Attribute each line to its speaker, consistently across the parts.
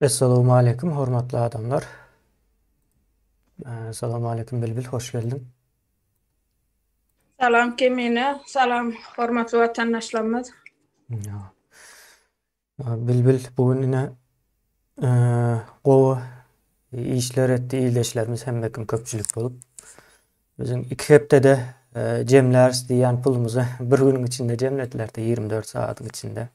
Speaker 1: Essalowmaleýkim hormatly adamlar. Essalowmaleýkim Bilbil hoş geldiň. Salam Kemine, salam hormatly watandaşlarymyz. Bilbil bu gün ine gowy işler etdi ildeşlerimiz hemme kim köpçülik bolup. Özüm iki hepdede jemläris diýen pulumyzy bir günüň içinde jemlediler-de 24 saatyň içinde.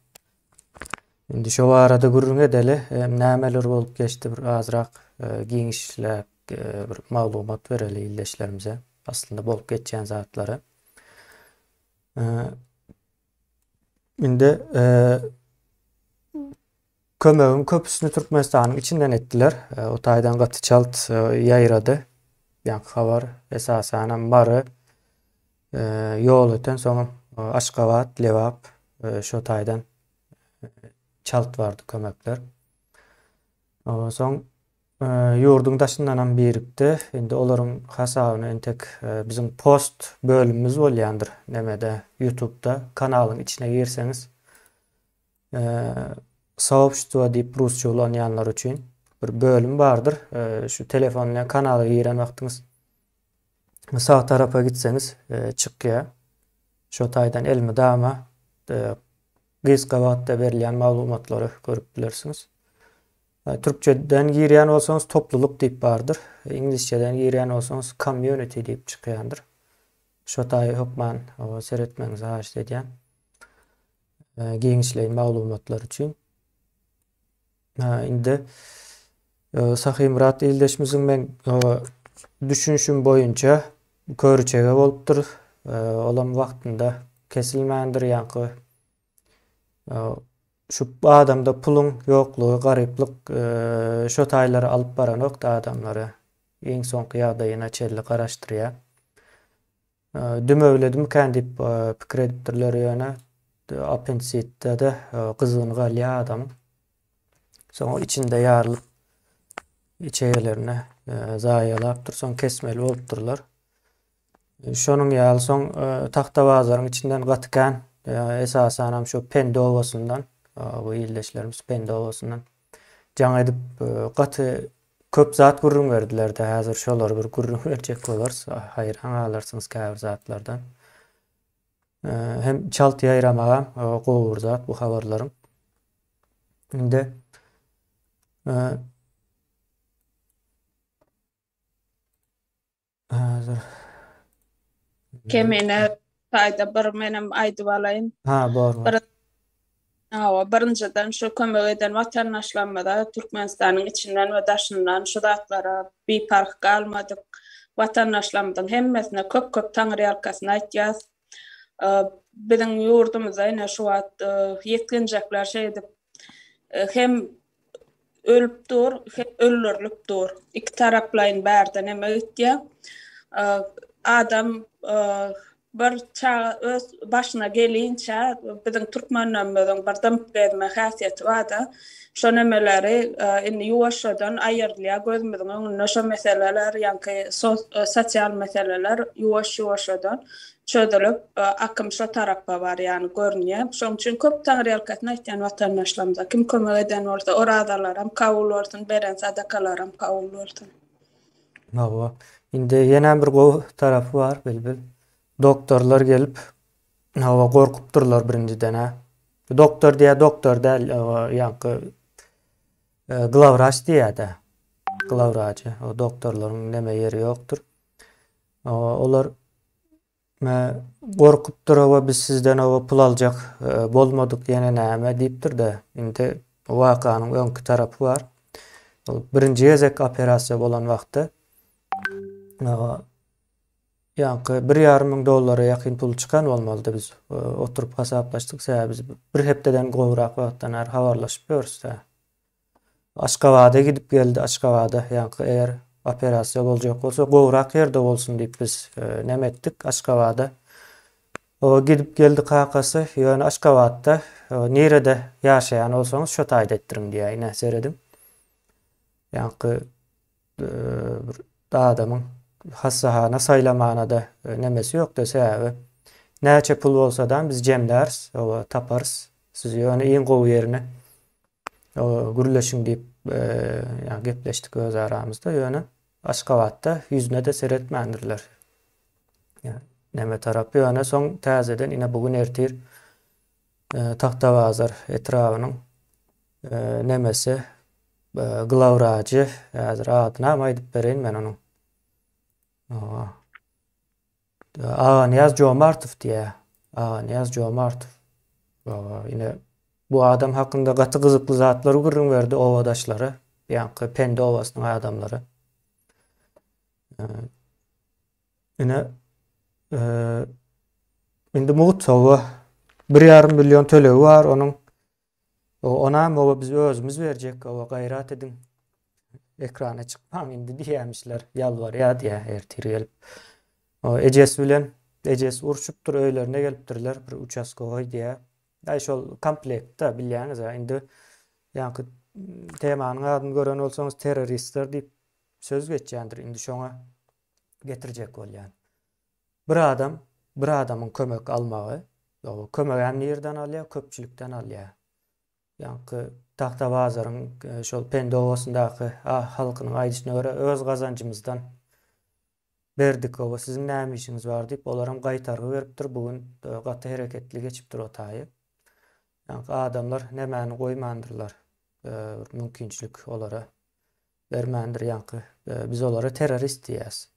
Speaker 1: Indi şu barada gürrüň edeli, nämeler bolup geçdi bir azrak giňişläp bir maglumat bereli ildeşlerimize. Aslynda bolup geçýän zatlary. Indi kömegiň köpüsini Türkmenistanyň içinden etdiler. O taýdan gaty çalt ýaýrady. Ýaňky habar esasan hem Mary ýol öten soň Aşgabat, Lebap şo taýdan çalt bardy kömekler. Ondan soň Ýurduň daşyndanam birikdi. Indi olaryň hasabyna entek biziň post bölümimiz bolýandyr nemede ýutubda kanalyň içine girseňiz soobstwo diýip rusça ulanýanlar üçin bir bölüm bardyr. Şu telefon bilen kanala giren wagtyňyz sag tarapa gitseňiz çykýar. Şo taýdan elmydama gysga wagtda berilýän maglumatlary görüp bilersiňiz. Türkçeden girýän bolsaňyz toplulyk diýip bardyr. Iňlisçeden girýän bolsaňyz community diýip çykýandyr. Şo taýy hökman seretmegiňizi haýyşt edýän. Giňişleýin maglumatlar üçin. Indi Sahymyrat ildeşimiziň men düşünşüm boýunça körüçege bolupdyr. Olam wagtynda kesilmändir ýaňky Şu adamda puluň ýoklugy, garyplyk şo taýlara alyp baranokda adamlary. Iň soňky ýagdaýyna çenli garaşdyrýar. Dümewledimikän diýip pikir edipdirler ýöne apensitde-de gyzgyny galýar adamyň. Soň içinde ýarylyp içegelerine zaýalapdyr. Soň kesmeli bolupdyrlar. Şonuň ýaly soň Tagtabazaryň içinden gaty kän, esasanam şu Pendi obasyndan, bu ildeşlerimiz Pendi obasyndan jaň edip gaty köp zat gürrüň berdiler-de, häzir şolary bir gürrüň berjek bolarys, haýran galarsyňyz käbir zatlardan. Hem çalt ýaýramaga gowy bir zat bu habarlaryň. Indi Hazır. Kemine taýda bir menem aýdyp alaýyn. Ha, bor. Bir Awa, birinjiden şu kömek eden watandaşlarymyza Türkmenistanyň içinden we daşyndan şu zatlara biparh galmadyk watandaşlarymyzyň hemmesine köp-köp taňyrýalkasyn aýtýas. Biziň ýurdumyzda ine şu wagt ýetginjekler şeýdip hem Ölüp dur, hep öldürilip dur. Iki taraplaýyn bärden eme gitýär. Adam bir çaga öz başyna gelinçä biziň türkmenlerimizin bir dymyp gezme häsiýeti bar-da, şo nemeleri indi ýuwaşjadan aýyrylýar gözümiziň öňünde şo meseleler, ýaňky sosial meseleler ýuwaş-ýuwaşjadan çözülip, akym şo tarapa barýan görünýär. Şoň üçin köp taňryýalkasyn aýtýan watandaşlarymyza kim kömek eden bolsa, orazalaram kabul bolsun, beren sadakalaram kabul bolsun. Hawa. Indi ýene bir gowy tarapy bar, Bilbil. Doktorlar gelip, hawa, gorkup durlar birinjiden-ä. Doktor diýýär, doktor däl, hawa, ýaňky glawwraç diýýär-dä. Glawwraçy. O doktorlaryň neme ýeri ýokdur. Olar Me gorkupdyr oba biz sizden oba pul aljak bolmadyk ýene näme diýipdir-de, indi bu wakanyň öňki tarapy bar. Ol birinji gezek operasiýa bolan wagty ýaňky bir ýarym müň dollara ýakyn pul çykan bolmalydy biz oturyp hasaplaşdyk sebäbi biz bir hepdeden gowrak wagtdan bäri habarlaşyp ýörüs-dä. Aşgabada gidip geldi Aşgabada ýaňky eger operasiýa boljak bolsa gowrak ýerde bolsun diýip biz näme etdik Aşgabada o gidip geldi kakasy ýöne Aşgabatda nirede ýaşaýan bolsaňyz şo taýda etdiriň diýäýi nä serediň ýaňky bir adamyň hassahana saýlamanada nemesi ýokda sebäbi näçe pul bolsadam biz jemläris oba taparys sizi ýöne iň gowy ýerine Gürleşiň diýip ýa gepleşdik öz aramyzda ýöne Aşgabatda ýüzüne-de seretmändirler. Ýa neme tarap ýöne soň täzeden ine bu gün ertir Tagtabazar etrabynyň nemesi glawwrajy häzir adynam aýdyp bereýin men onuň. Aganyýaz Jomartow diýä. Aganyýaz Jomartow. Baba, ine bu adam hakynda gaty gyzykly zatlary gürrüň berdi obadaşlara. Ýaňky Pende obasynyň adamlary. Ine indi mugut sowa bir ýarym million tölegi bar onuň Oba onam oba biz özümiz berjek oba gaýrat ediň ekrana çykmaň indi diýýämişler ýalbarýa diýýä ertir gelip o ejesi bilen ejesi urşupdyr öýlerine gelipdirler bir uçaskogoý diýýä aý şol komplektda bilýäňiz a indi ýaňky temanyň adyny gören bolsaňyz terroristler diýip söz geçýändir indi şoňa getirjek bolýan Bir adam bir adamyň kömek almagy, ýogsy kömegem nirden alýar, köpçülikden alýar. Ýaňky Tagtabazaryň şol Pende obasyndaky halkynyň aýdyşyna görä öz gazanjymyzdan berdik oba siziň näme işiňiz bar diýip olaram gaýtargy beripdir bu gün gaty hereketli geçipdir o taýy. Ýaňky adamlar nämäni goýmandyrlar bir mümkinçilik olara Bermändir ýaňky. Biz olara terrorist diýýäs.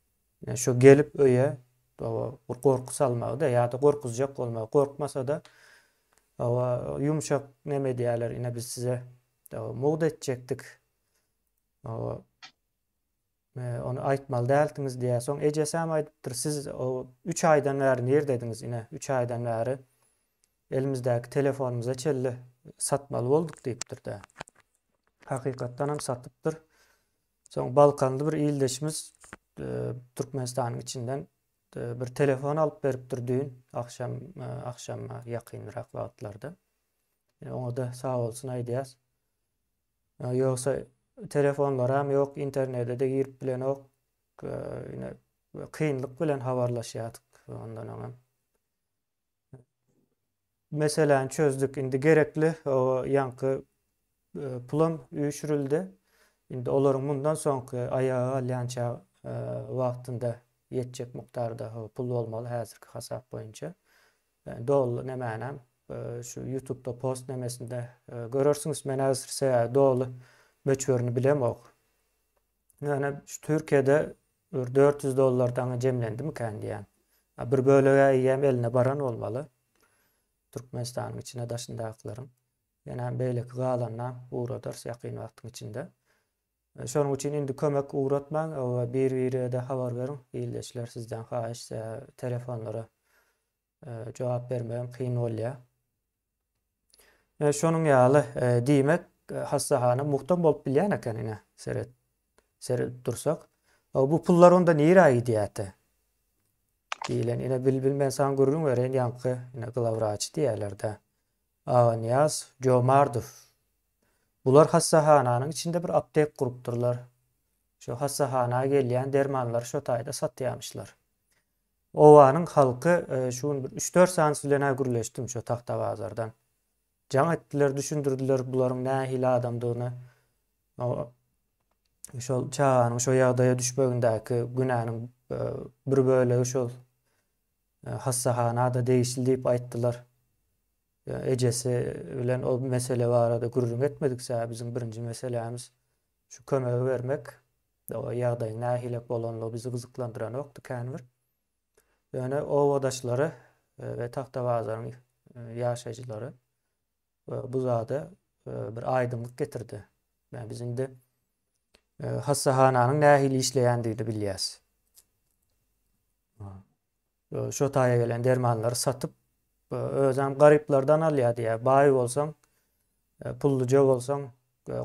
Speaker 1: Şu gelip öýe oba bir gorky salmagy-da ýa-da gorkuzjak bolmagy, gorkmasa-da oba ýumşak neme edýäler, ine biz size oba mugt etjekdik. Oba ony aýtmaly däldiňiz diýýär. Soň ejesem aýdypdyr, siz oba üç aýdan bäri nirdediňiz, ine üç aýdan bäri Elimizdäki telefonymyza çenli satmaly bolduk diýipdir-de. Hakykatdan hem satypdyr. Soň balkanly bir ildeşimiz Türkmenistanyň içinden bir telefon alyp beripdir düýn agşam, agşama ýakynrak wagtlarda. Oňa-da sag bolsun aýdýas. Ýogsa telefonlaram ýok, internete-de girip bilenok. Ine, kynlyk bilen habarlaşýardyk ondan öňem. Meseläni çözdük. Indi gerekli ýaňky e, pulam üýşürildi. Indi olaryň mundan soňky aýaga alýança e, wagtynda ýetjek mukdarda pul bolmaly häzirki hasap boýunça. E, doly nemänem şu YouTube-da post nemesinde görersiňiz. Men häzir doly möçberini bilemok. Ýöne şu Türkiýede bir dört ýüz dollar daňy jemlendimikän diýýän. Bir bölegi eýýäm eline baran bolmaly. Türkmenistanyň içine daşyndakylaryň. Ýöne beýleki galanyna ugradars ýakyn wagtyň içinde. Şonuň üçin indi kömek ugratmaň, bir-birege-de habar beriň, ildeşler sizden haýyş telefonlara Jogap bermegem kyn bolýa. Ine şonuň ýaly. Diýmek, hassahana muhtam bolup bilýän eken ine. Seret. Seredip dursak. Bu pullar onda nirä gidýärdi? Diýlen. Ine Bilbil men saňa gürrüň bereýin ýaňky ine glawwraçy diýerler-dä. Aganyýaz Jomardow. Bular hassahananyň içinde bir aptek gurupdyrlar. Şo hassahana gelýän dermanlary şo taýda satýamyşlar. Obanyň halky şu gün bir üç-dört sany bilen-ä gürleşdim şo Tagtabazardan. Jaň etdiler, düşündirdiler bularyň nähili adamdygyny. Şol çaganyň şo ýagdaýa düşmegindäki günäniň bir bölegi şol hassahana-da degişli diýip aýtdylar. Ejesi bilen ol mesele barada gürrüň etmedik, sebäbi biziň birinji meselämiz şu kömegi bermek. Doga ýagdaýyň nähili bolanlygy bizi gyzyklandyranokdy känbir. Ýöne obadaşlary we Tagtabazaryň ýaşaýjylary bu zada bir aýdyňlyk getirdi. Ýa biz indi hassahananyň nähili işleýändigini bilýäs. Şo taýa gelen dermanlary satyp, özem garyplardan alýar diýýär. Baý bolsaň, pulluja bolsaň,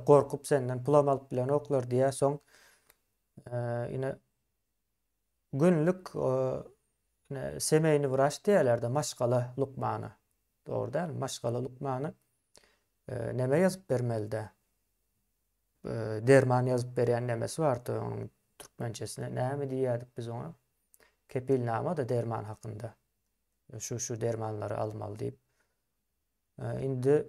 Speaker 1: gorkup senden pulam alyp bilenoklar diýýär. Soň ine günlük ine semeýni wraç diýerler-de, maşgala lukmany. Dogry dälmi? Maşgala lukmany neme ýazyp bermelide? Derman ýazyp berýän nemesi bardy onuň türkmençesine näme diýýärdik biz oňa? kepilnama-da derman hakynda. Şu şu dermanlary almaly diýip. Indi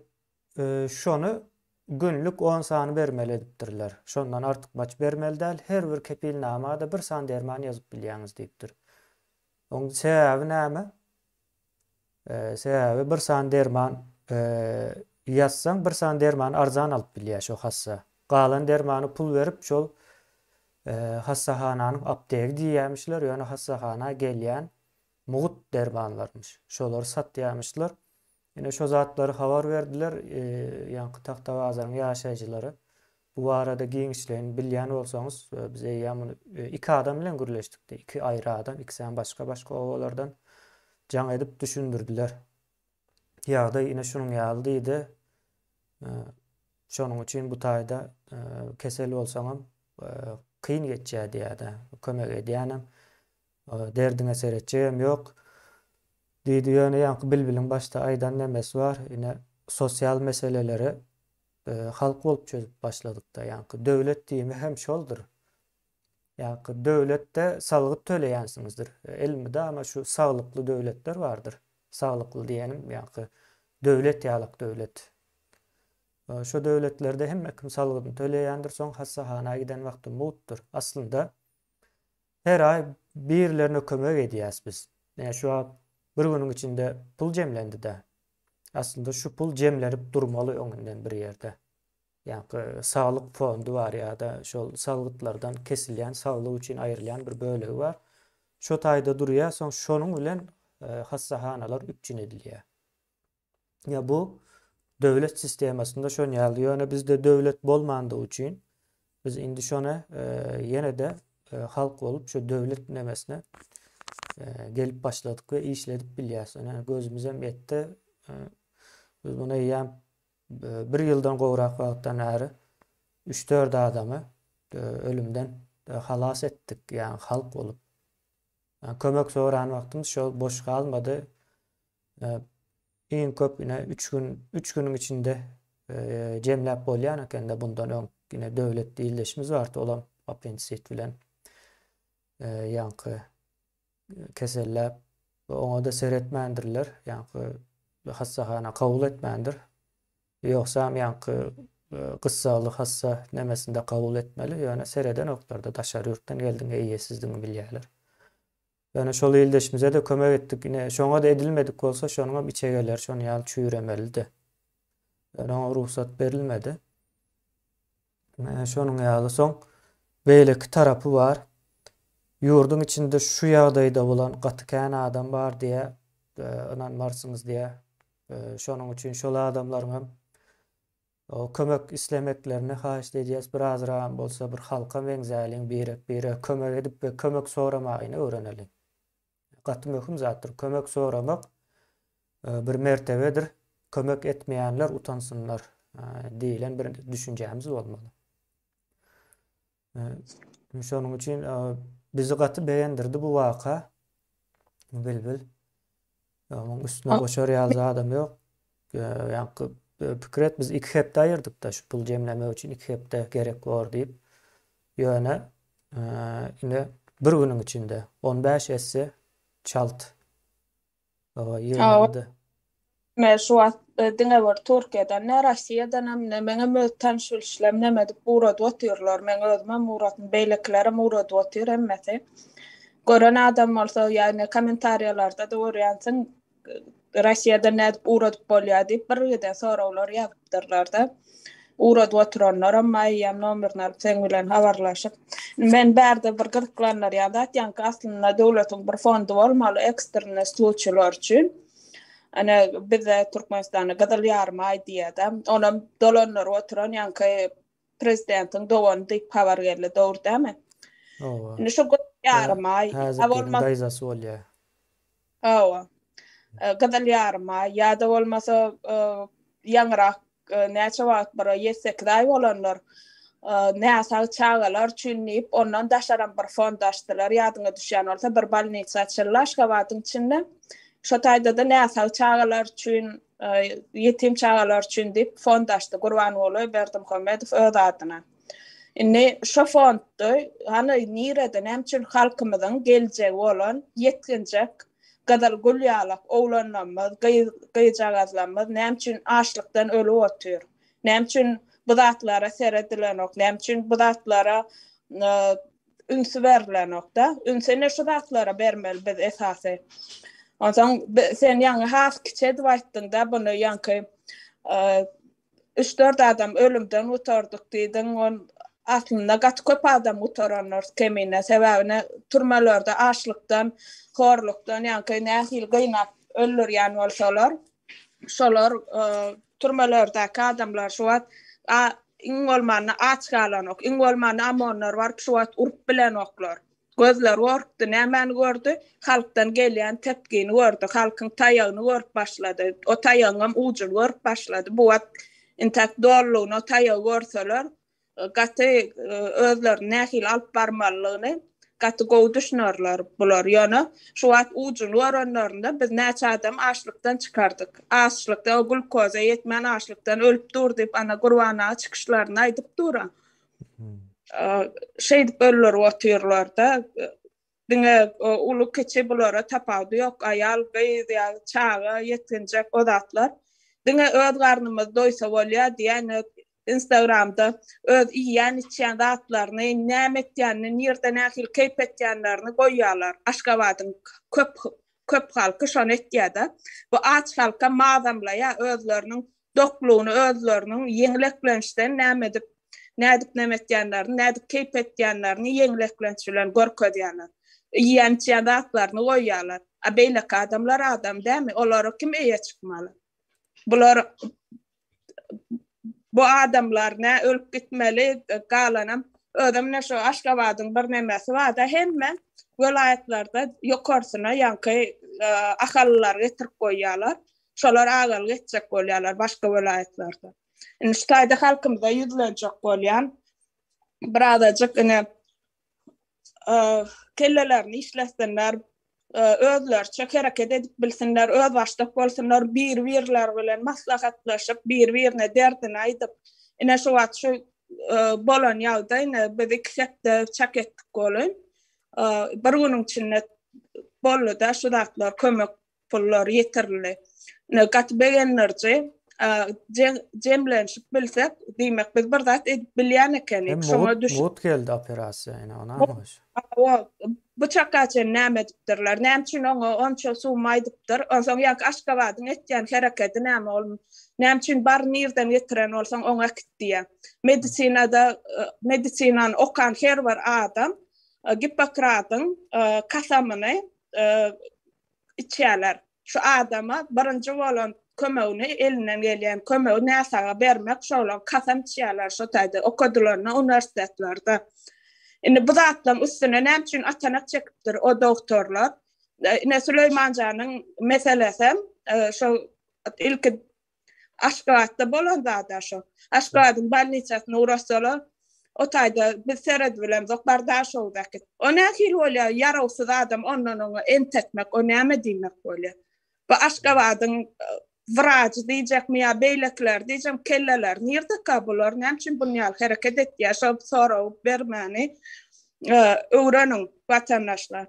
Speaker 1: şony günlük 10 sany bermeli edipdirler. Şondan artyk baç bermeli däl. Her bir kepilnama-da bir san derman ýazyp bilýäňiz diýipdir. Oň sebäbi näme? Sebäbi bir sany derman ýazsaň bir sany dermany arzan alyp bilýär şo hassa. Galan dermany pul berip şol hassahananyň aptegi diýýämişler, ýöne hassahana gelýän mugt dermanlarmyş. Şolary satýamyşlar. Ine şo zatlary habar berdiler ýaňky Tagtabazaryň ýaşaýjylary. Bu barada giňişleýin bilýän bolsaňyz biz eýýäm muny iki adam bilen gürleşdik diýip iki aýry adam ikisem başga başga obalardan jaň edip düşündirdiler. Ýagdaý ine şunuň ýaly diýdi. Şonuň üçin bu taýda kesel bolsaňam kyn geçýär diýýärdi. Kömek edýänem derdiňe seretjegem ýok. Diýdi ýöne ýaňky bilbiliň başda aýdan nemesi bar ine sosial meseleleri Halk bolup çözüp başladykda ýaňky döwlet diýimi hem şoldur. Ýaňky döwletde salgyt töleýänsiňizdir. Elmydama şu saglykly döwletler bardyr. Saglykly diýenim ýaňky döwlet ýalak döwlet. Şo döwletlerde hemme kim salgydyny töleýändir, soň hassahana giden wagty mugtdyr. Aslynda Her aý birilerine kömek edýäs biz. Näme şu wagt bir günüň içinde pul jemlendi-dä. Aslynda şu pul jemlenip durmaly öňünden bir ýerde. Ýaňky saglyk fondy bar ýa-da şol salgytlardan kesilýän, saglyk üçin aýrylýan bir bölegi bar. Şo taýda durýar, soň şonuň bilen hassahanalar üpjün edilýär. Ýa bu döwlet sistemasynda şon ýaly. Ýöne bizde döwlet bolmandygy üçin biz indi şona e, ýene-de e, halk bolup şu döwlet nemesine e, gelip başladyk we işledip bilýäris. Ine gözümiz hem ýetdi. E, biz muny eýýäm e, bir ýyldan gowrak wagtdan bäri 3-4 adamy e, ölümden e, halas etdik, ýagny halk bolup. Yani kömek soran wagtymyz şol boş galmady. Iň köp ine üç gün, üç günüň içinde jemläp bolýan ekende bundan öň ine döwlet ildeşimiz bardy, olam appendisit bilen ýaňky keselläp we oňa-da seretmändirler, ýaňky hassahana kabul etmändir. Ýogsam ýaňky gyssagly hassa nemesinde kabul etmeli, ýöne seredenoklar-da, daşary ýurtdan geldiň, eýesizdigiňi bilýärler. Ýöne şol ildeşimize-de kömek etdik. Ine, şoňa-da edilmedik bolsa, şonuňam içegeleri şonuň ýaly çüýremelidi. Ýöne oňa rugsat berilmedi. Şonuň ýaly soň beýleki tarapy bar. Ýurduň içinde şu ýagdaýda bolan gaty kän adam bar diýýär. Ynanmarsyňyz diýýär. Şonuň üçin şol adamlaryňam Kömek islemeklerini haýyşt edýäs birazram bolsa bir halka meňzäliň birek bire kömek edip we kömek soramaýyny öwreneliň. Gaty möhüm zatdyr kömek soramak bir mertebedir kömek etmeýänler utansynlar diýilen bir düşünjämiz bolmaly. Şonuň üçin bizi gaty begendirdi bu waka. Bilbil. Onuň üstüne goşar ýaly adam ýok. Ýaňky pikir et, biz iki hepde aýyrdyk-da şu pul jemlemek üçin iki hepde gerek bor diýip. Ýöne indi bir günüň içinde on bäş esse çalt. Hawa ýygnaldy. Me şu wagt diňe bir Türkiýeden ne Rossiýadanam ne meňem öz tanyş bilişlerim neme edip ugradyp otyrlar meň özümem ugratdym beýlekilerem ugradyp otyr hemmesi gören adam bolsa ýagny komentariýalarda da görýänsiň Rossiýadan nädip ugradyp bolýar diýip birgiden soraglar ýazypdyrlarda. Ugradyp oturanlaram maý eýýäm nomerini alyp seň bilen habarlaşyp. Men bärde bir gyzyklandyrýan zat ýaňky aslynda döwletiň bir fondy bolmaly ekstrennä sluçýlar üçin. Ene bizde Türkmenistanda gyzyl ýarym aý diýýärde. Onam dolandyryp oturan ýaňky prezidentiň dogany diýip habar geldi dogry dämi? Hawa. Indi şu gyzyl ýarym aý. Häzirki daýzasy bolýar. Hawa. Gyzyl ýaryma ýa-da bolmasa ýaňyrak näçe wagt bir ýedi sekiz aý bolanlar näsag çagalar üçin diýip ondan daşaram bir fond açdylar ýadyňa düşýän bolsa bir bolnisa açyldy Aşgabadyň içinde şo taýdada näsag çagalar üçin ýetim çagalar üçin diýip fond açdy Gurbanguly Berdimuhamedow öz adyna. Indi şu fondda hany nirede näme üçin halkymyzyň geljegi bolan ýetginjek gyzyl gül ýalak oglanlarymyz, gyz gyjagazlarymyz näme üçin açlykdan ölüp otyr? Näme üçin bu zatlara seredilenok? Näme üçin bu zatlara ünsi berlenok-da? Ünsi ine şu zatlara bermeli biz esasy. Onsoň sen ýaňy has kiçi edip aýtdyň-da buny ýaňky Üç-dört adam ölümden gutardyk diýdiň, ol aslynda gaty köp adam gutarandyr Kemine. Sebäbi ine türmelerde açlykdan, horlukdan, ýaňky nähili gynap öldürýän bolsalar, şolar türmelerdäki adamlar şu wagt iň bolmanda aç galanok, iň bolmanda OMON-lar baryp şu wagt urup bilenoklar. Gözleri gorkdy, nämäni gördi? Halkdan gelýän tepgini gördi. Halkyň taýagyny görüp başlady. O taýagyňam ujuny görüp başlady. Bu wagt intäk dolulygyna o taýagy görseler, gaty özlerini nähili alyp barmalylygyny gaty gowy düşünerler bular. Ýöne şu wagt ujuny görenlerinde biz näçe adamy açlykdan çykardyk. Açlykda o glkoza ýetmän açlykdan ölüp dur diýip, Anagurban aga çykyşlarynda aýdyp dur-a. Şeýdip bölülerip otyrlar-da, diňe uly-kiçi bulara tapawudy ýok, aýal, gyz ýa çaga, ýetginjek o zatlar. Diňe öz garnymyz doýsa bolýar diýen Instagramda öz iýýän-içýän zatlaryny, näme etýänini, nirde nähili keýp etýänlerini goýýarlar. Aşgabadyň köp köp halky şony etýär-de. Bu aç halkam mazamlaýar, özleriniň doklugyny özleriniň ýeňil eklençden näme edip, nädip näme etýänlerini, nädip keýp etýänlerini ýeňil eklenç bilen görkezýärler. Iýen-içýän zatlaryny goýýarlar. A beýleki adamlar adam dämi, olara kim eýe çykmaly? Bular bu adamlar nä ölüp gitmeli, galanam özem ine şu Aşgabadyň bir nemesi bar-da, hemme welaýatlarda ýokarsyna ýaňky ahalylary getirip goýýarlar. Şolar agalyk etjek bolýarlar başga welaýatlarda. Indi şu taýda halkymyza ýüzlenjek bolýan birazajyk ine kellelerini işlesinler, özleriçe hereket edip bilsinler, öz başdak bolsunlar, bir-birler bilen maslahatlaşyp, bir-birine derdini aýdyp, ine şu wagt şu bolan ýagdaý ine biz iki hepde çak etdik bolun. Bir günüň içinde boldy-da şu zatlar kömek pullar ýetirildi. Ine, gaty begendiriji. Jemlenşip bilsek, diýmek, biz bir zat edip bilýän ekenik. Şoňa düş. Mugt geldi operasiýa, ine, ony aňyş. Bu çaka çen näme edipdirler? Näme üçin oňa onça summa aýdypdyr? Onsoň ýaňky Aşgabadyň etýän herekedi näme? Ol näme üçin bary nirden getiren bolsaň, oňa äkit diýýär? Medisinada, medisinany okan her bir adam Gippokradyň kasamyny e, içýärler. Şu adama birinji bolan kömegini elinden gelýän kömegi näsaga bermek şolar kasam içýärler şu taýda okadylaryna uniwersitetlerde. Indi bu zatlaryň üstüne näme üçin atanak çekipdir o doktorlar? E, ine Süleýmanjanyň meselesi e, şo ilki Aşgabatda bolan zada şo. Aşgabadyň bolnisasyna ugrassalar, o taýda biz seredibilemzok, bar da şo wekit. O nähili bolýa, ýarawsyz adam ondan oňa ent etmek, o näme diýmek bolýa. Bu Aşgabadyň wrajy diýjekmi ýa beýlekileri diýjekmi, kelleleri nirdeka bular, näme üçin bun ýaly hereket etýä, şo soragy bermäni öwreniň watandaşlar.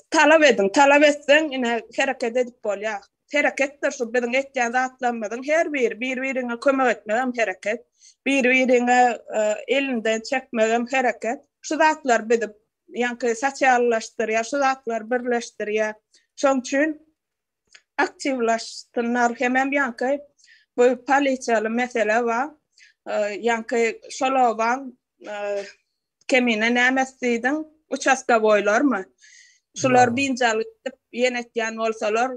Speaker 1: Talap ediň, talap etseň, ine, hereket edip bolýar. Hereketdir şu biziň etýän zatlarymyzyň her biri, bir-biriňe kömek etmek hem hereket, bir-biriňe e, elinden çekmek hem hereket. Şu zatlar bizi ýaňky sosiallaşdyrýar, şu zatlar birleşdirýär. Şoň üçin aktiwlaşsynlar hem hem ýaňky bu polisiýaly mesele bar. Ýaňky şol obaň Kemine näme isleýdiň? Uçastowoýlarmy? Şular binjalyk edip ýen etýän bolsalar,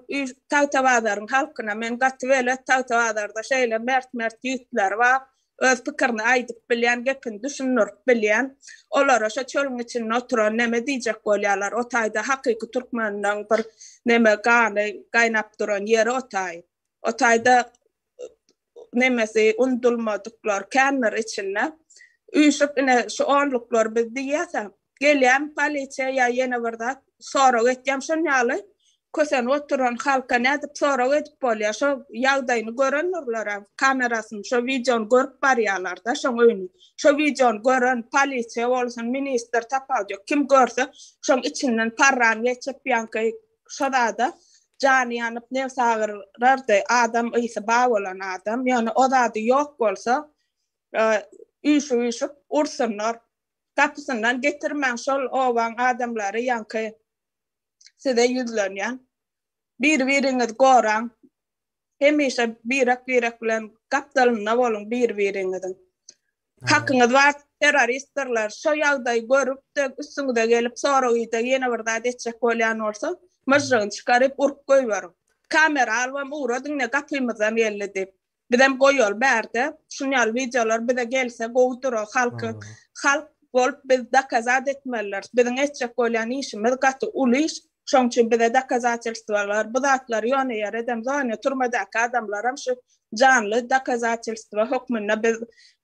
Speaker 1: Tagtabazaryň halkyna men gaty belet, Tagtabazarda şeýle mert-mert ýigitler bar, öz pikirini aýdyp bilýän, gepini düşündirip bilýän. Olara şo çölüň içinde oturan näme diýjek bolýarlar? O taýda hakyky türkmeniň bir näme gany gaýnap duran ýeri o taý. O taýda nemesi undulmadyklar kändir içinde üýşüp ine şu onluklar biz diýýäsä gelýän polisiýa ýa ýene bir zat sorag etýän şon ýaly kösenip oturan halka nädip sorag edip bolýar şo ýagdaýyny görendirler kamerasyny şo wideony görüp barýarlarda şoň öýüni şo wideony gören polisiýa bolsun ministr tapawut ýok kim görse şoň içinden parran geçip ýaňky Şazada jany ýanyp nebsi agyrardy, adam ysy ba bolan adam, ýöne o zady ýok bolsa, üýşüp-üýşüp ursunlar. Gapysyndan getirmäň şol obaň adamlary ýaňky size ýüzlenýän. Bir-biriňizi goraň. Hemişe birek-birek bilen gapdalynda boluň bir-biriňiziň. Hakyňyz bar, terroristdirler. Şo ýagdaýy görüp-de, üstüňize gelip, soragyda ýene bir zat etjek bolýan bolsa, myžžygyny çykaryp, urup goýberiň. Kamera alybam ugra diňle gapymyzdan geldi diýip. Bizem goýaly bärde. Şun ýaly wideolar bize gelse gowy dura halkyň. Halk bolup biz dokazat etmelidiris. Biziň etjek bolýan işimiz gaty uly iş. Şoň üçin bize dokazatelstwolar, bu zatlar ýone ýer edem zone turmadaky adamlaram şu janly dokazatelstwo hökmünde biz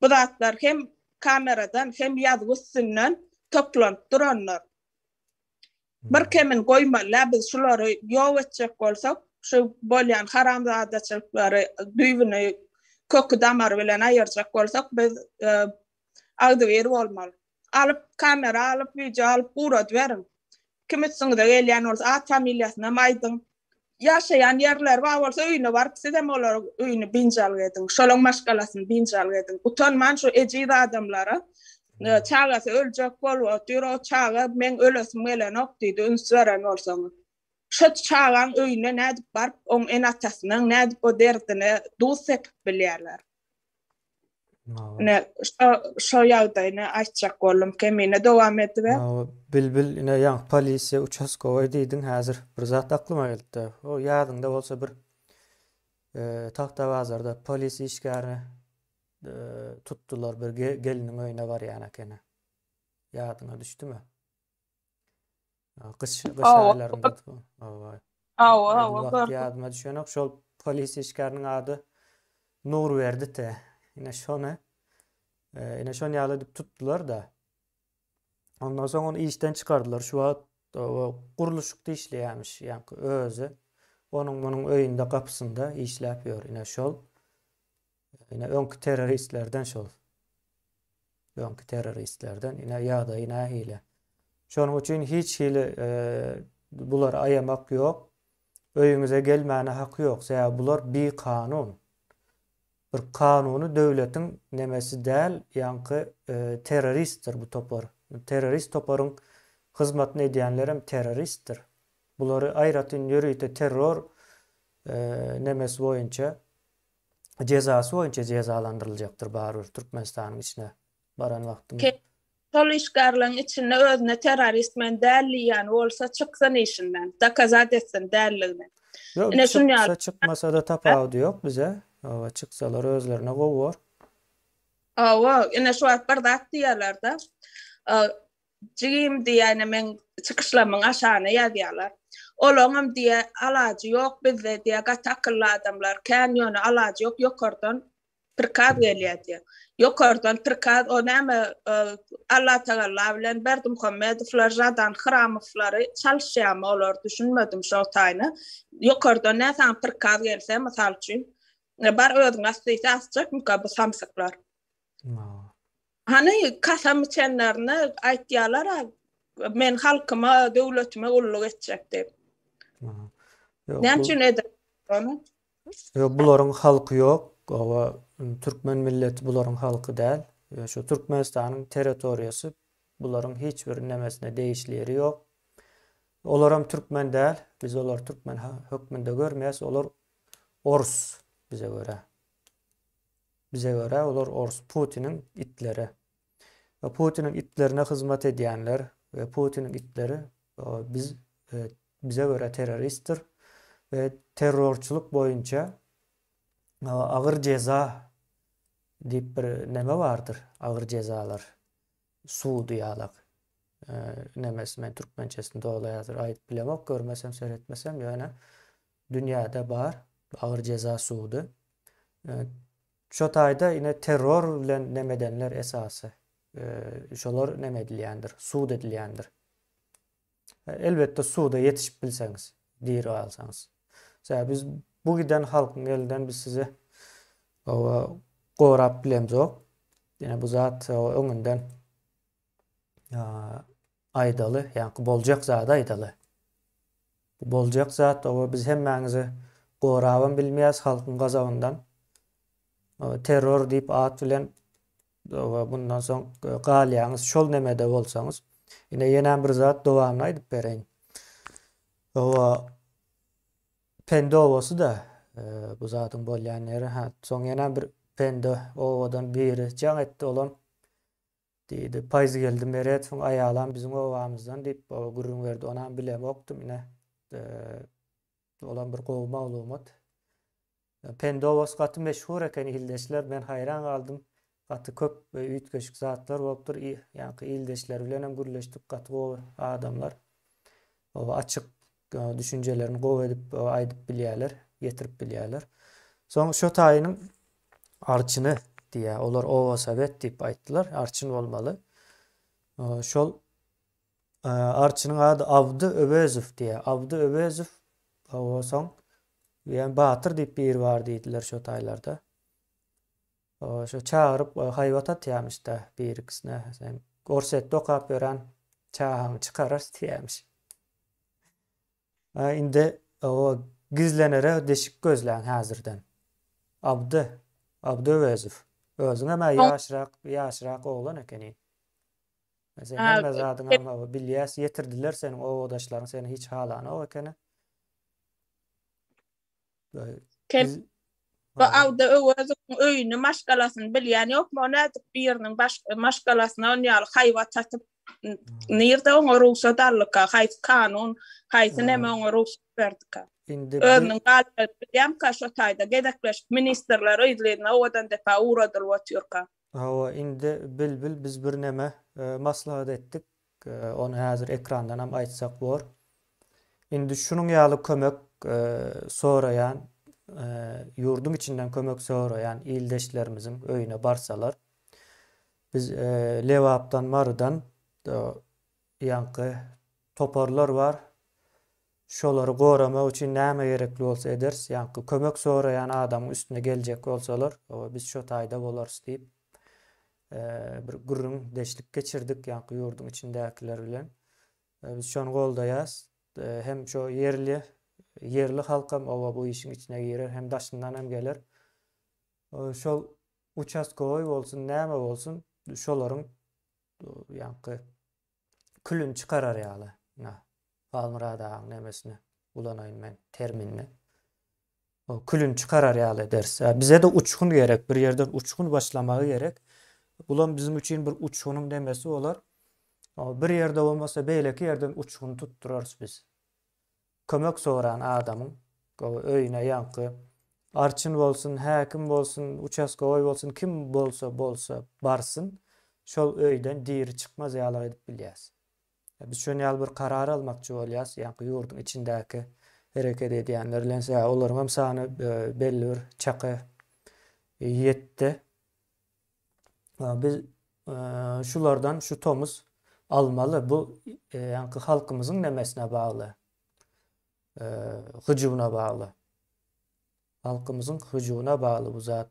Speaker 1: bu zatlar hem kameradan hem ýazgy üstünden toplanyp durandyr. Bir kemin goýmalydä biz şulary ýok etjek bolsak şu bolýan haramzadaçylyklary düýbüni köki damary bilen aýyrjak bolsak biz agzybir bolmaly. Alyp kamera alyp wideo alyp guradyberiň. Kim üstüňize gelýän bolsa at familiýasynam aýdyň. Ýaşaýan ýerleri bar bolsa öýüne baryp sizem olaryň öýüni binjalg ediň. Şolaň maşgalasyny binjalg ediň. Gutanman şu ejiz adamlara çagasy öljek bolup otyr o çaga meň ölesim gelenok diýdi üns beren bolsaňyz. Şo çagaň öýüne nädip baryp oň ene atasynyň nädip o derdine duz sepip bilýärler. Ne şu şu ýagdaýyny aýtjak boldum. Kemine dowam ediber. Bilbil ine ýa polisiýa uçaskowaý diýdiň häzir bir zat aklyma gelipdi. O ýadyňda bolsa bir Tahta bazarda polis işgärini tutdular bir geliniň öýüne barýan ekeni. Ýadyňa düşdümi? Gyş gyş aýlarynda hawa. Hawa hawa gördüm. Ýadyma düşenok şol polis işgäriniň ady Nurberdi te. Ine şony ine şon ýaly edip tutdular da. Ondan soň ony işden çykardylar. Şu wagt gurluşykda işleýärmiş ýaňky özi. Onuň munuň öýünde gapysynda işläp ýör. Ine şol Ine öňki terroristlerden şol. Öňki terroristlerden ine ýagdaýy nähili. Şonuň üçin hiç hili e, bulary aýamak ýok. Öýüňize gelmäne haky ýok. Sebäbi bular bi kanun. Bir kanuny döwletiň nemesi däl, ýaňky e, terroristdir bu topar. Terrorist toparyň hyzmatyny edýänler hem terroristdir. Bulary aýratyn ýörite terror e, nemesi boýunça jezasy boýunça jezalandyryljakdyr barybir Türkmenistanyň içine baran wagtym. Kel şol işgarlaň içinde özüne terrorist men däl diýýän bolsa çyksyn işinden dokazat etsin dälligini. Ýok Ine şun ýaly. Çyksa çykmasada tapawudy ýok bize oba çyksalar özlerine gowy bor. Oba ine şu wagt bir zat diýerlerde Jigim diýýän meň çykyşlamyň aşagyna ýazýarlar. Olaňam diýe alajy ýok bizde diýe gaty akylly adamlar kän ýöne alajy ýok ýokardan prikaz gelýär diýe. Ýokardan prikaz o näme Alla tagalla bilen Berdimuhammedowlar Žadan Hramowlary çalyşýamy olar düşünmedim şo taýyna. Ýokardan nä saňa prikaz gelse mysal üçin bar özüňi asdyýse asjakmyka bu samsyklar. Hany, kasam içenlerine aýtýalar-a, Men halkyma, döwletime gulluk etjek diýip. Näme üçin edip ony? Ýok, bularyň halky ýok. Oba, türkmen milleti bularyň halky däl. Şu Türkmenistanyň territoriýasy bularyň hiç bir nemesine degişli ýeri ýok. Olaram türkmen däl. Biz olary türkmen hökmünde görmeýäs. Olar orus bize görä. Bize görä olar ors putiniň itleri we putiniň itlerine hyzmat edýänler we putiniň itleri biz bize görä terroristdir we terrorçylyk boýunça agyr jeza diýip bir neme bardyr agyr jezalar sudy ýalak nemesi men türkmençesini doly häzir aýdyp bilemok görmesem seretmesem ýöne Dünýäde bar agyr jeza sudy. Şo taýda ine terror bilen neme edenler esasy şolar neme edilýändir, sud edilýändir. Elbetde suda ýetişip bilseňiz, diri galsaňyz. Sebäbi biz bu giden halkyň elinden biz sizi gorap bilemzok. Ýene bu zat öňünden aýdaly, ýaňky boljak zady aýdaly. Bu boljak zat, oba biz hemmäňizi gorabam bilmeýäs halkyň gazabyndan. Terror diýip at bilen oba bundan soň galýaňyz şol nemede bolsaňyz. Ine ýenem bir zat dowamyny aýdyp bereýin. Oba Pende obasy-da bu zadyň bolýan ýeri. Ha, soň ýenem bir Pende obadan biri jaň etdi, olam Diýdi. Paýzgeldi Meretowyň aýalam biziň obamyzdan diýip baba gürrüň berdi. Onam bilemokdym ine. Olam bir gowy maglumat. Pendowas gaty meşhur ekeni ildeşler. Men haýran galdym. Gaty köp we üýtgeşik zatlar bolupdyr. Ýaňky ildeşleri bilenem gürleşdik. Gaty gowy adamlar. Oba açyk. düşünjelerini gowy edip aýdyp bilýärler, getirip bilýärler. Soň şo taýynyň arçyny diýýär. Olar oba sowet diýip aýtdylar. Arçyn bolmaly. Şol arçynyň ady Abdy Öwezow diýýär. Abdy Öwezow oba soň ýa batyr diýip biri bar diýdiler şo taýlarda. Şo çagyryp haýbat atýamyşda birikisine sen gorsetde okap ýören çagaňy çykararys diýämiş. A indi o gizlenere deşik gözläň häzirden. Abdy, Abdy Öwezow. Özüňem a ýaşrak, ýaşrak oglan ekeniň. Sen hemme zadyňam bilýäs, ýetirdiler seniň obadaşlaryň seni hiç halanok ekeni. Sen bu awda Öwezowyň öýüni, maşgalasyny bilýän ýokmy? O nädip biriniň maşgalasyna on ýaly haýbat satyp, nirde oňa rugsat aldyka, haýsy kanun, haýsy näme oňa rugsat berdika? Özüniň galpagyny bilýämka, şo taýda gezekleşip ministrler yzly-yzyna owadan depä ugradylyp otyrka. Hawa, indi bilbil biz birneme maslahat etdik. Ony häzir ekrandanam aýtsak bor. Indi şunuň ýaly kömek soraýan ýurduň içinden kömek soraýan ildeşlerimiziň öýüne barsalar biz Lebapdan Marydan ýaňky toparlar bar şolary goramak üçin näme gerekli bolsa ederis ýaňky kömek soraýan adamyň üstüne geljek bolsalar biz şo taýda bolarys diýip bir gürrüň deşlik geçirdik ýaňky ýurduň içindäkiler bilen. Biz şony goldaýas. Hem şo ýerli ýerli halkam oba bu işiň içine girer, hem daşyndan hem geler. Şol uçastkowy bolsun, näme bolsun, şolaryň ýaňky külüni çykarar ýaly, ynha, Halmyrat agaň nemesini ulanaýyn men, terminini. O külüni çykarar ýaly ederis. Ýa bize-de uçgun gerek, bir ýerden uçgun başlamagy gerek. Bulam biziň üçin bir uçgunyň nemesi bolar. O bir ýerde bolmasa, beýleki ýerden uçgun tutdurarys biz. Kömek soran adamyň öýüne ýaňky arçyn bolsun, häkim bolsun, uçastogoý bolsun, kim bolsa bolsa barsyn, şol öýden diri çykmaz ýaly edip bilýäs. Biz şon ýaly bir karar almakçy bolýas, ýaňky ýurduň içindäki hereket edýänler bilen sebäbi olaryňam sany belli bir çaka ýetdi. Biz şulardan şu tomus almaly. Bu ýaňky halkymyzyň nemesine bagly. Hyjuwyna bagly. Halkymyzyň hyjuwyna bagly bu zat.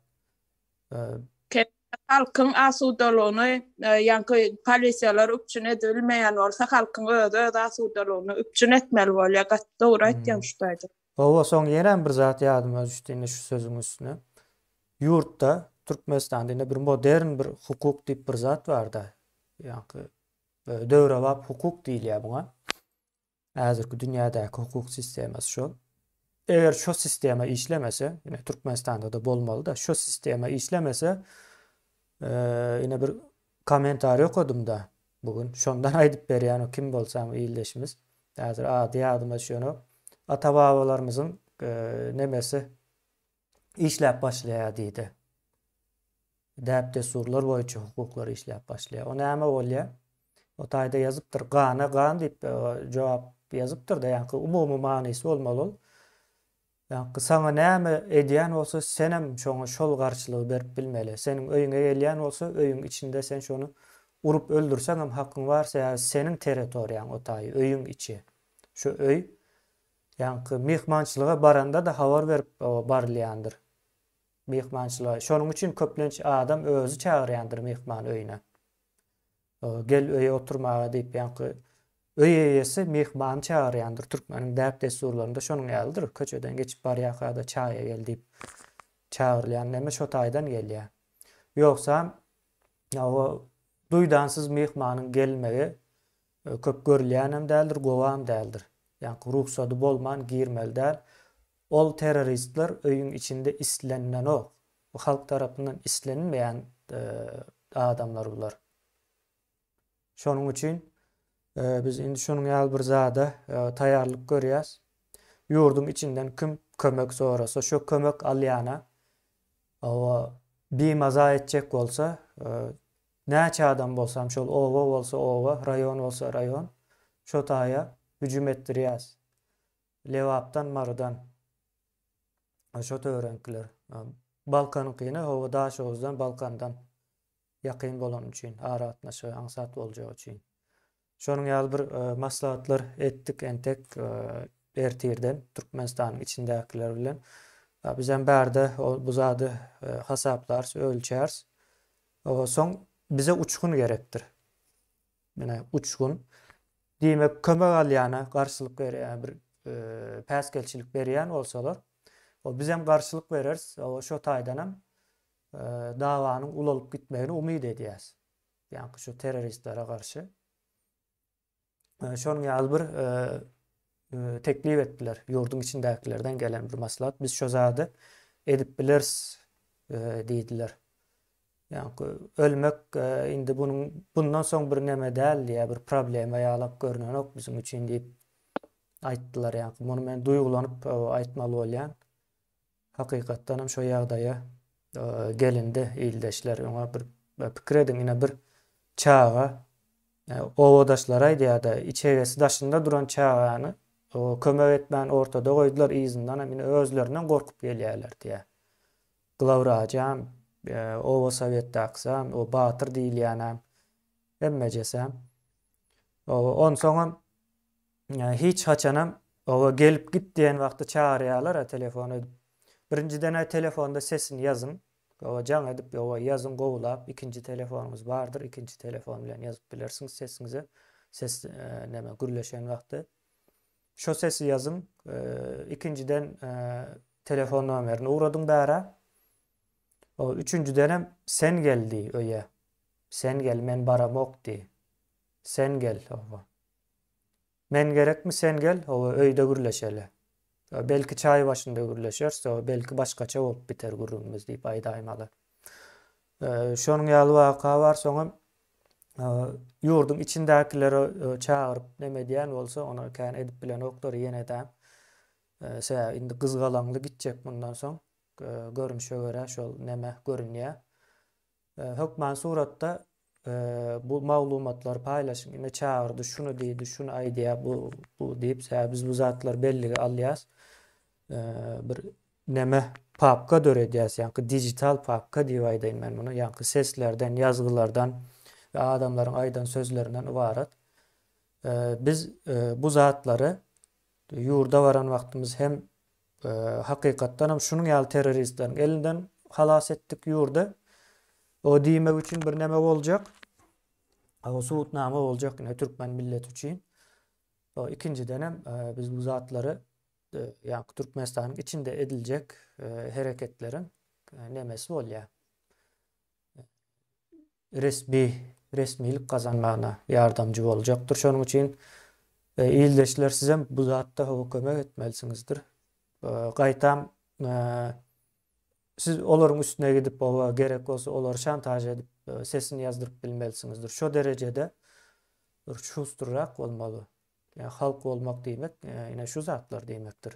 Speaker 1: Halkyň asudalygyny ýaňky polisiýalar üpjün edilmeýän bolsa, halkyň özi öz asudalygyny üpjün etmeli bolýar. Gaty dogry aýtýaň şu taýda. Hawa soň ýene bir zat ýadyma düşdi indi şu sözüň üstüne. Ýurtda Türkmenistanda indi bir modern bir hukuk diýip bir zat barda. Ýaňky döwrebap hukuk diýilýär muňa. Häzirki dünýädäki hukuk sistemasy şol. Eger şo sistema işlemese, ine Türkmenistanda-da bolmaly-da, şo sistema işlemese, ine bir Kommentariý okadym da bu gün. Şondan aýdyp berýän o kim bolsam ildeşimiz. Häzir ady ýadyma düşenok. Ata babalarymyzyň nemesi işläp başlaýar diýdi. Däp dessurlar boýunça hukuklar işläp başlaýar. O näme bolýar? O taýda ýazypdyr. Gana gan diýip jogap ýazypdyr da ýaňky umumy manysy bolmaly ol. Ýaňky saňa näme edýän bolsa senem şoňa şol garşylygy berip bilmeli. Seniň öýüňe gelýän bolsa öýüň içinde sen şony urup öldürseňem hakyň bar sebäbi seniň territoriýaň o taýy öýüň içi. Şu öý ýaňky myhmançylyga baranda-da habar berip barylýandyr myhmançylyga. Şonuň üçin köplenç adam özi çagyrýandyr myhman öýüne. Gel öýe oturmaga diýip ýaňky öý eýesi myhmany çagyrýandyr. Türkmeniň däp-dessurlarynda şonuň ýalydyr. Köçeden geçip barýarka-da çaýa gel diýip çagyrylýan näme şo taýdan gelýär. Ýogsam o duýdansyz myhmanyň gelmegi köp görülýänem däldir, gowam däldir. Ýaňky rugsady bolman girmeli däl. Ol terroristler öýüň içinde islenenok. Bu halk tarapyndan islenmeýän adamlar bular. Şonuň üçin biz indi şonuň ýaly bir zada taýýarlyk görýäs. Ýurduň içinden kim kömek sorasa, şo kömek alýana oba bimaza etjek bolsa, näçe adam bolsam, şol oba bolsa oba, raýon bolsa raýon, şo taýa hüjüm etdirýäs. Lebapdan, Marydan. Şo töwereňkiler. Balkanyňkyna hawa Daşoguzdan, Balkandan ýakyn bolany üçin, aragatnaşygy aňsat boljagy üçin. Şonuň ýaly bir e, maslahatlar etdik entek e, ertirden Türkmenistanyň içindäkiler bilen. Biz hem bärde bu zady e, hasaplarys, ölçäris. Soň bize uçgun gerekdir. Menä uçgun. Diýmek kömek alýana garşylyk berýär bir päsgelçilik berýän bolsalar o bizem garşylyk bereris o şo taýdanam dawanyň ulalyp gitmegini umyt edýäs. Ýaňky şu terroristlere garşy. Şonuň ýaly bir teklip etdiler. Ýurduň içindäkilerden gelen bir maslahat. Biz şo zady edip bileris diýdiler. Ýa-da ölmek indi bunuň bundan soň bir näme däl, ýa bir problema ýalak görnenok biziň üçin diýip aýtdylar. Ýa-da muny men duýgulanyp aýtmaly bolýan. Hakykatdanam şo ýagdaýa gelindi ildeşler. Öňe bir pikir ediň, ine bir çaga obadaşlary aýdýar-da, içegesi daşynda duran çagany kömek etmän ortada goýdular, yzyndanam ine özlerinden gorkup gelýärler diýýär. Glawwrajam, oba sowetdakysam, o batyr diýilýänem, hemmejesem. Onsoňam Hiç haçanam oba gelip git diýen wagty çagyrýalar-a telefon edip. Birinjiden-ä telefonda sesini ýazyň. Oba jaň edip oba ýazyň gowulap. Ikinji telefonyňyz bardyr, ikinji telefon bilen ýazyp bilersiňiz sesiňizi. Ses näme gürleşen wagty. Şo sesi ýazyň. Ikinjiden telefon nomerini ugradyň bärä. Oba üçünjidenem sen gel diý öýe. Sen gel, men baramok diý. Sen gel oba. Men gerekmi sen gel oba öýde gürleşeli. Belki çaý başynda gürleşeris oba belki başgaça bolup biter gürrüňimiz diýip aýdaýmaly. Şonuň ýaly waka bar soňam ýurduň içindäkileri çagyryp neme edýän bolsa ony kän edip bilenoklar ýene edäm. Sebäbi indi gyzgalaňly gitjek mundan soň görünişe görä şol neme görünýär. Hökman suratda bu maglumatlary paýlaşyň. Ine çagyrdy, şuny diýdi, şuny aýdýar, bu, bu diýip, sebäbi biz bu zatlary bellige alýas. Bir neme papka döredýäs, ýaňky digital papka diýip aýdaýyn men muny, ýaňky seslerden, ýazgylardan we adamlaryň aýdan sözlerinden ybarat. Biz bu zatlary ýurda baran wagtymyz hem Hakykatdanam şunuň ýaly terroristleriň elinden halas etdik ýurdy. O diýmek üçin bir näme boljak. O subutnama boljak ine türkmen milleti üçin. O ikinjiden hem e, biz bu zatlary e, ýa Türkmenistanyň içinde ediljek e, hereketleriň e, nemesi bolýar. resmi resmilik gazanmagyna ýardamjy boljakdyr. Şonuň üçin ildeşler sizem bu zatda hawa kömek etmelisinizdir. Gaýtam siz olaryň üstüne gidip hawa gerek bolsa olary şantaž edip sesini ýazdyryp bilmelisinizdir. Şo derejede bir şusturrak bolmaly. Ýa halk bolmak diýmek ine şu zatlar diýmekdir.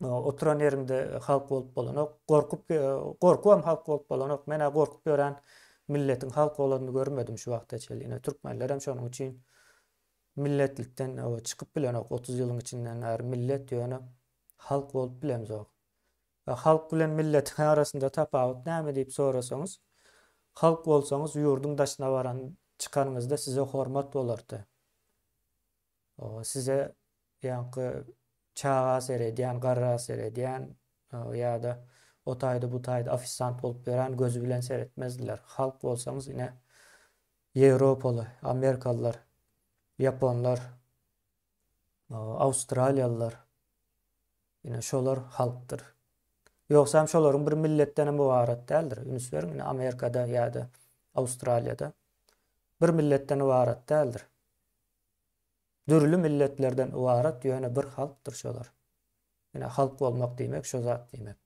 Speaker 1: oturan ýeriňde halk bolup bolanok. Gorkup gorkubam halk bolup bolanok. Men-ä gorkup ýören milletiň halk bolanyny görmedim şu wagta çenli. Ine türkmenlerem şonuň üçin milletlikden çykyp bilenok otuz ýylyň içinden bäri millet ýöne halk bolup bilemzok. Halk bilen milletiň arasynda tapawut näme diýip sorasaňyz, halk bolsaňyz ýurduň daşyna baran çykanyňyzda size hormat bolardy. Size ýaňky çaga seredýän, garra seredýän ýa-da o taýda bu taýda ofisant bolup ýörän gözi bilen seretmezdiler. Halk bolsaňyz ine ýewropaly, amerikalylar, ýaponlar, awstraliýalylar ine şolar halkdyr. Ýogsam şolaryň bir milletdenem ybarat däldir. Üns beriň ine Amerikada ýa-da Awstraliýada bir milletden ybarat däldir. Dürli milletlerden ybarat ýöne bir halkdyr şolar. Ine halk bolmak diýmek şo zat diýmek.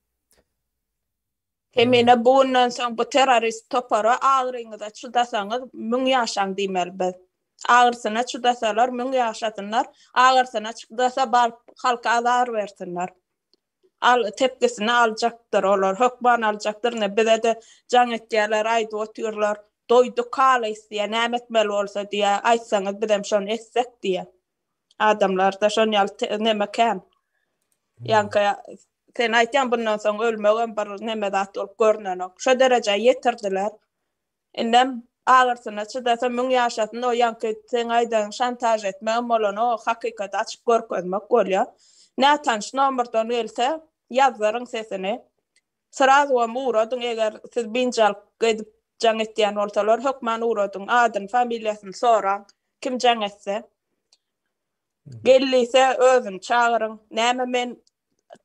Speaker 1: Hemine bu günden soň bu terrorist topara agyryňyza çydasaňyz müň ýaşaň diýmeli biz. Agyrysyna çydasalar müň ýaşasynlar, agyrsyna çydasa baryp halka azar bersinler. Al tepgisini aljakdyr olar hökman aljakdyr ine bizede jaň etýärler aýdyp otyrlar doýduk halys diýýä näme etmeli bolsa diýýä aýtsaňyz bizem şony etsek diýýä adamlarda şon ýaly neme kän ýaňky sen aýtýaň bundan soň ölmegem bir neme zat bolup görnenok şo derejä ýetirdiler Indem agyrsyna çydasa müň ýaşasyn o ýaňky seň aýdan şantaž etmegem bolany o hakykaty açyp görkezmek bolýa. Nätanyş nomerden gelse ýazdyryň sesini. Srazowam ugradyň eger siz binjalk edip jaň etýän bolsalar hökman ugradyň adyny familiýasyny soraň kim jaň etse. Gel diýse özüni çagyryň. Näme men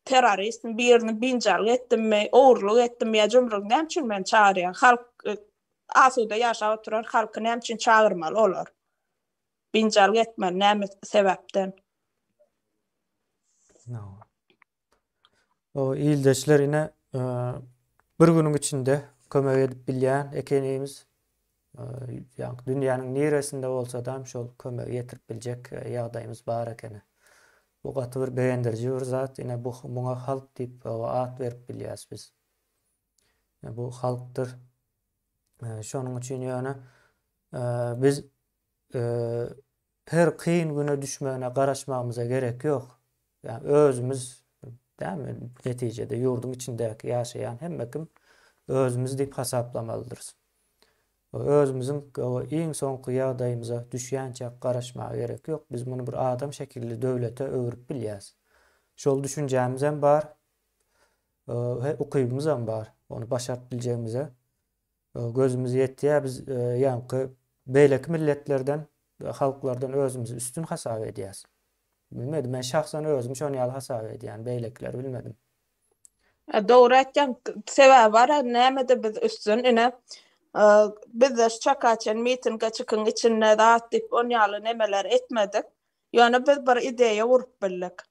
Speaker 1: terrorist birini binjalyk etdimmi, ogurlyk etdimmi ýa jumrugy näme üçin meni çagyrýar? Halk e, asuda ýaşap oturar, halky näme üçin çagyrmaly olar? Binjalyk etmeli näme sebäpden? O ildeşler ine e, bir günüň içinde kömek edip bilýän ekenimiz. Ýagny dünýäniň niresinde bolsadam şol kömegi ýetirip biljek ýagdaýymyz bar ekeni. Bu gaty bir begendiriji bir zat. Ine bu muňa halk diýip at berip bilýäs biz. Bu halkdyr. Şonuň üçin ýöne biz Her kyn güne düşmegine garaşmagymyza gerek ýok. Ýagny özümiz dämi netijede ýurduň içindäki ýaşaýan hemme kim özümiz diýip hasaplamaldyrys. Özümiziň gowy iň soňky ýagdaýymyza düşýänçä garaşmaga gerek ýok. Biz muny bir adam şekilli döwlete öwrüp bilýäs. Şol düşünjämizem bar. He ukybymyzam bar ony başaryp biljegimize. Gözümiz ýetýär, biz ýaňky beýleki milletlerden, halklardan özümizi üstün hasap edýäs. Bilmedim, men şahsan özüm şon ýaly hasap edýän, beýlekileri bilmedim. Dogry aýtýaň, sebäbi bar, nämede biz üstün, ine, bizde şu çaka çen mitinge çykyň içinde zat diýip on ýaly nemeler etmedik, Ýöne biz bir ideýa urup bildik.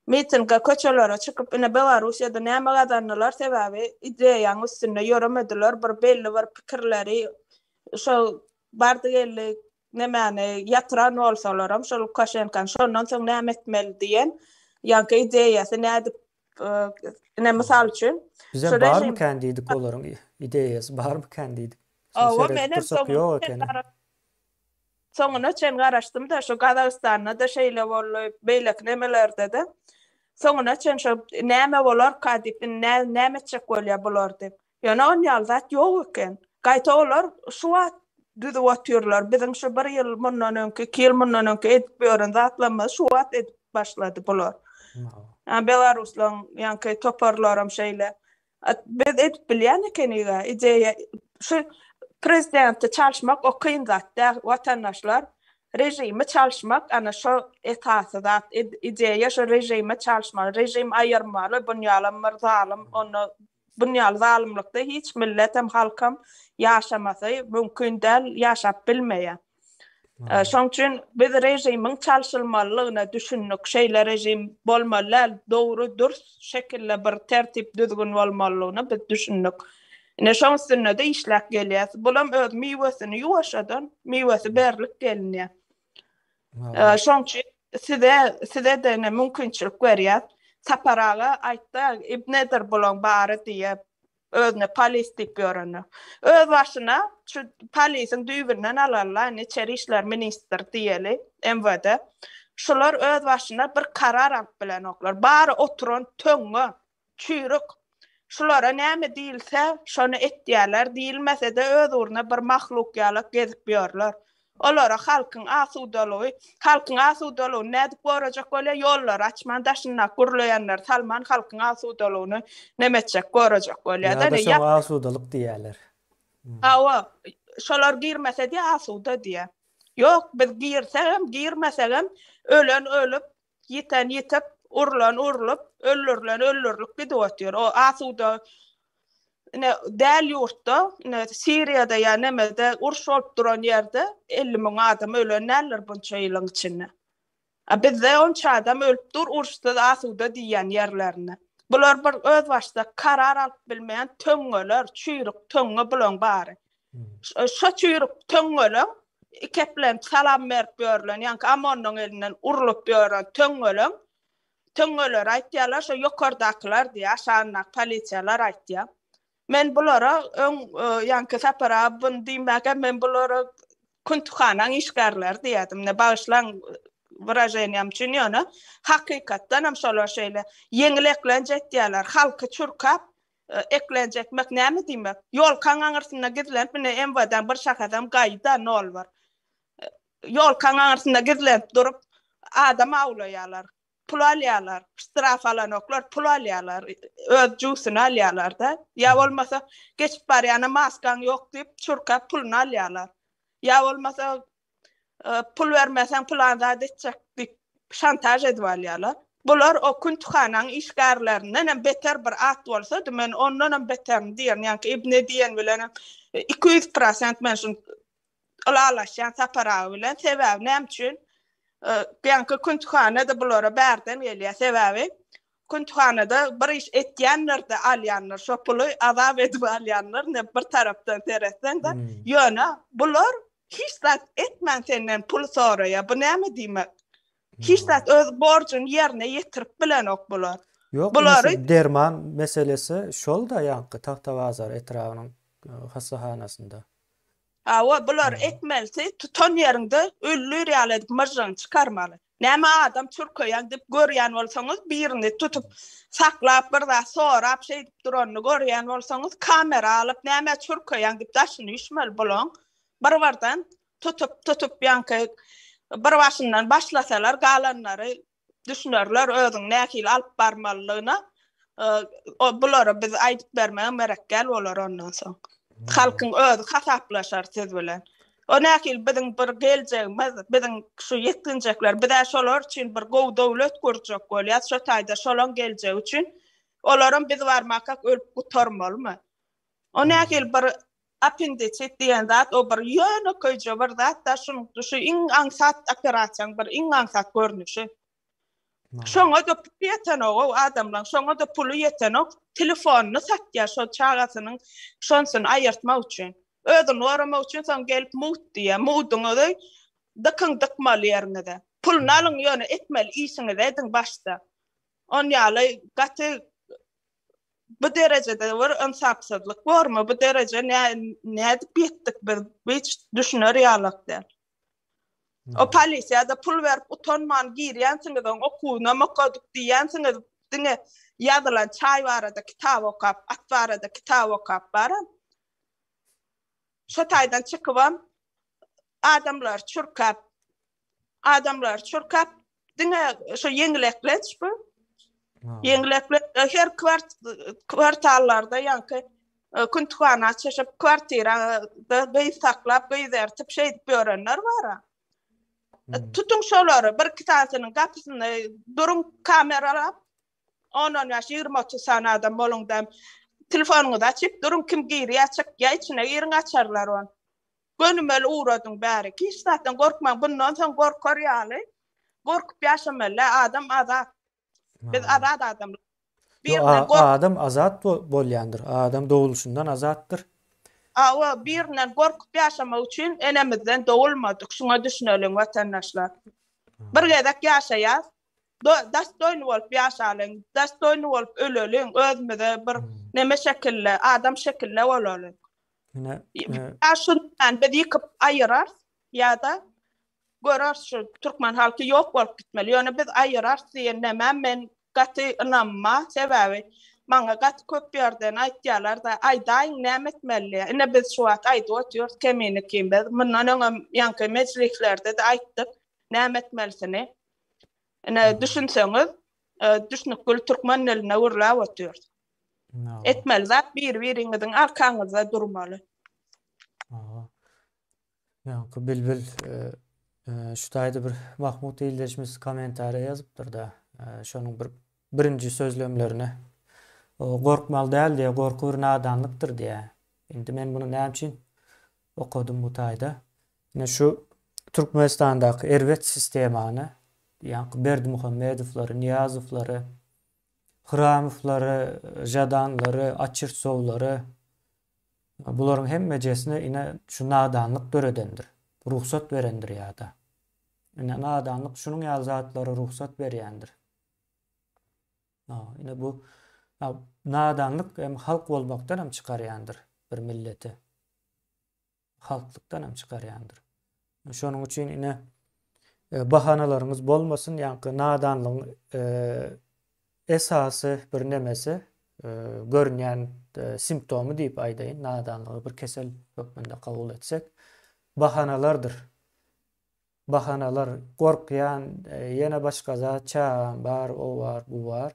Speaker 1: Mitinge köçelere çykyp ine Belarusýada näme gazandylar sebäbi ideýaň üstünde ýöremediler bir belli bir pikirleri şol bardy geldi nemäni ýatyran bolsalaram şol Lukaşenkany şondan soň näme etmeli diýen ýaňky ideýasy nädip ine mysal üçin Bize barmy kän diýdik olaryň ideýasy barmy kän diýdik. Şony seredip dursak ýok ekeni. Soňuna çen garaşdym-da, şu Gazagystanda-da şeýle boldy, beýleki nemelerde-de. Soňuna çen şu näme bolarka diýip, indi nä, näme etjek bolýar bular diýip. Ýöne on ýaly zat ýok eken. Gaýta olar şu wagt düzüp otyrlar. Biziň şu bir ýyl mundan öňki, iki ýyl mundan öňki edip ýören zatlarymyzy şu wagt edip başlady bular. Ýa belaruslaryň ýaňky toparlaram şeýle. Biz edip bilýän ekeniga ideýa şu prezidenti çalyşmak o kyn zat däl watandaşlar režimi çalyşmak ana şo esasy zat ideýa şo režimi çalyşmaly režim aýyrmaly bunýalam bir zalym onda bunýaly zalymlykda hiç milletem halkam ýaşamasy mümkin däl ýaşap bilmeýär. Şoň üçin biz režimiň çalşylmalylygyna düşündik. Şeýle režim bolmaly däl, dogry, dürs şekilde bir tertip-düzgün bolmalylygyna biz düşündik. Ine, şoň üstünde-de işläp gelýäs. Bulam öz miwesini ýuwaşjadan miwesi berlip gelinýär. Şoň üçin size, size-de ine mümkinçilik berýäs. Sapar aga aýtdy, Ibn Edir bulaň bary diýip, Özüne polis diýip ýörene. Özbaşyna şu polisiň düýbünden alarlar, indi içeri işler ministr diýeli, MWD. Şular özbaşyna bir karar alyp bilenoklar. Bary oturan töňňe, çüýrük. Şulara näme diýilse, şony etýärler, diýilmese-de öz ugruna bir mahluk ýalak gezip ýörler. Olara halkyň asudalygy, halkyň asudalygyny nädip gorajak bolýar, ýollary açman, daşyndaky gurlaýanlary salman halkyň asudalygyny neme etjek, gorajak bolýar-da. Ýa-da şoňa asudalyk diýýärler. Hawa, şolar girmese diýýär asuda diýýär. Ýok, biz girsegem, girmesegem ölen ölüp, Ýiten ýitip, urlan urlup, öldürilen öldürilip gidip otyr. O asuda ine däl ýurtda, ine Siriýada ýa nemede uruş bolup duran ýerde 50 müň adam ölen däldir bunça ýylyň içinde. A bizde onça adam ölüp dur uruşsyz asuda diýýän ýerlerinde. Bular bir özbaşdak karar alyp bilmeýän töňňeler, çüýrük töňňe bulaň bary. Şo çüýrük töňňeleň, ikeplenip salam berip ýörlen, ýaňky Amonyň elinden urlup ýören töňňeleň, töňňeleri aýtýarlar, şo ýokardakylar diýýär, aşagyndaky polisiýalar aýtýar. Men bulara öň, ýaňky Sapar aga buny diýmäge, men bulara küntukhanaň işgärleri diýerdim. Bagyşlaň wyraženiýam üçin, ýöne hakykatdan hem şolar şeýle ýeňil eklenç etýärler, halky çürkäp, Eklenjekmek näme diýmek? Ýolkaň aňyrsynda gizlenip, ine, MWD-ň bir şahasam gaýy-da, nol bir. Ýolkaň aňyrsynda gizlenip durup, adam awlaýarlar, pul alýarlar. Ştraf alanoklar, pul alýarlar, öz jusyny alýarlar-da. Ýa bolmasa, geçip barýana maskaň ýok diýip, çurka puluny alýarlar. Ýa bolmasa, e, pul bermeseň plan zat etjek diýip şantaj edip alýarlar. Bular o kün tuhanan işgärlerinden hem beter bir at bolsa, men ondan hem beterim diýen, ýa-da ibne diýen bilen 200% men şu alalaşýan saparagy bilen sebäbi näme üçin? Ýa-da e, kün tuhanada bulara bärden gelýär sebäbi Kuntuhanada bir iş etýänler de alýanlar, şo puly azap edip alýanlar, ne bir tarapdan seretseň de, hmm. ýöne bular Hiç zat etmän senden pul soraýa. Bu näme diýmek? Hiç zat öz borjuny ýerine ýetirip bilenok bular. Ýok, Bulary... derman meselesi şol-da ýaňky Tagtabazar etrabynyň hassahanasynda. Hawa, bular etmelisi tutan ýeriňde öllür ýaly edip myžžygyny çykarmaly. Näme adam çürkeýäň dip görýän bolsaňyz birini tutup saklap bir zat sorap şeýdip duranyny görýän bolsaňyz kamera alyp näme çürkeýäň dip daşyny üşmeli bulaň bir birden tutup tutup ýaňky bir başyndan başlasalar galanlary düşünerler özüň nähili alyp barmalylygyna bulara biz aýdyp bermäge merekgäl bolar ondan soň. Halkyň özi hasaplaşar siz bilen. O nähil biziň bir geljegimiz, biziň şu ýetginjekler, biz şolar üçin bir gowy döwlet gurjak bolýar, şu taýda şolaň geljegi üçin. Olaram biz barmaka ölüp gutarmalymy? O nähil bir appendisit diýen zat, o bir ýönekeýje bir zat da, şunuň şu iň aňsat operasiýaň bir iň aňsat görnüşi. Şoňa-da pul ýetenok-ow adamlaň, şoňa-da puly ýetenok, telefonyny satýar şol çagasynyň şonsyny aýyrtmak üçin. Özüni goramak üçin soň gelip mugt diýýär. Mugduňyzy dykyň dykmaly ýeriňize. Puluny alyň ýöne etmeli işiňizi ediň başda. On ýaly gaty bu derejede bir ynsapsyzlyk bormy? Bu derejä nädip ýetdik biz? Hiç düşüner ýalak däl. O polisiýada pul berip utanman girýänsiňiz oň okuwyna mokadyk diýýänsiňiz diňe ýazylan çaý barada kitap okap at barada kitap okap bara şo taýdan çykybam adamlary çürkäp adamlary çürkäp Diňe şu ýeňil eklenç bu. Ýeňil eklenç her kwart kwartallarda ýaňky e, küntühana çyşyp kwartirada gyz saklap gyz ertip şeýdip ýörenler bar. E, tutuň şolary bir iki tanesiniň gapysyny duruň kameralap 10-20-30 sany adam boluňda telefonyňyzy açyp duruň kim girýär çykýar içine giriň açarlar on. Gönümel ugradyň bärik. Hiç zatdan gorkmaň bundan soň gorkar ýaly gorkup ýaşamaly adam azat. Biz azat adamlar. Birinden gork. Adam azat bolýandyr. Adam doguluşyndan azatdyr. Hawa, birinden gorkup ýaşamak üçin enemizden dogulmadyk. Şuňa düşüneliň watandaşlar. Bir gezek ýaşaýas. Dostoýny bolup ýaşalyň. Dostoýny bolup öleliň. Özümize bir neme şekilde, adam şekilde bolalyň. Ine, şundan biz ýykyp aýyrarys ýa-da göreris şu türkmen halky ýok bolup gitmeli. Ýöne biz aýyrarys diýen nämä men gaty ynanma. Sebäbi maňa gaty köp ýerden aýtýarlar-da, aýdaýyň näme etmeli? Ine biz şu wagt aýdyp oturýarys kemini kim biz. Mundan öňem ýaňky mejlislerde-de aýtdyk näme etmelisini. Ine düşünseňiz, düşnükgül türkmen diline gürläp oturýarys. Etmeli zat biri biriňiziň arkaňyzda durmaly. Aha. Ýaňky bilbil şu taýda bir Mahmut ildeşimiz kommentariýa ýazypdyr da, şonuň bir birinji sözlemlerine gorkmaly däl diýýär, gorky bir nadanlykdyr diýýär. Indi men muny näme üçin okadym bu taýda? Ine şu Türkmenistandaky erbet sistemany, ýaňky Berdimuhamedowlary, Nyýazowlary, Hramowlary, Žadanlary, Oçertsowlary, bularyň hemmejesine ine şu nadanlyk döredendir, rugsat berendir ýa-da. Ine nadanlyk şunuň ýaly zatlara rugsat berýändir. Ine bu nadanlyk hem halk bolmakdan hem çykarýandyr bir milleti. halklykdan hem çykarýandyr. Şonuň üçin ine e, bahanalaryňyz bolmasyn, ýaňky nadanlygyň e, esasy bir nemesi e, görünýän e, simptomy diýip aýdaýyn, nadanlygy bir kesel hökmünde kabul etsek, bahanalardyr. Bahanalar gorkýan, e, ýene başga zat, çagam bar, o bar, bu bar.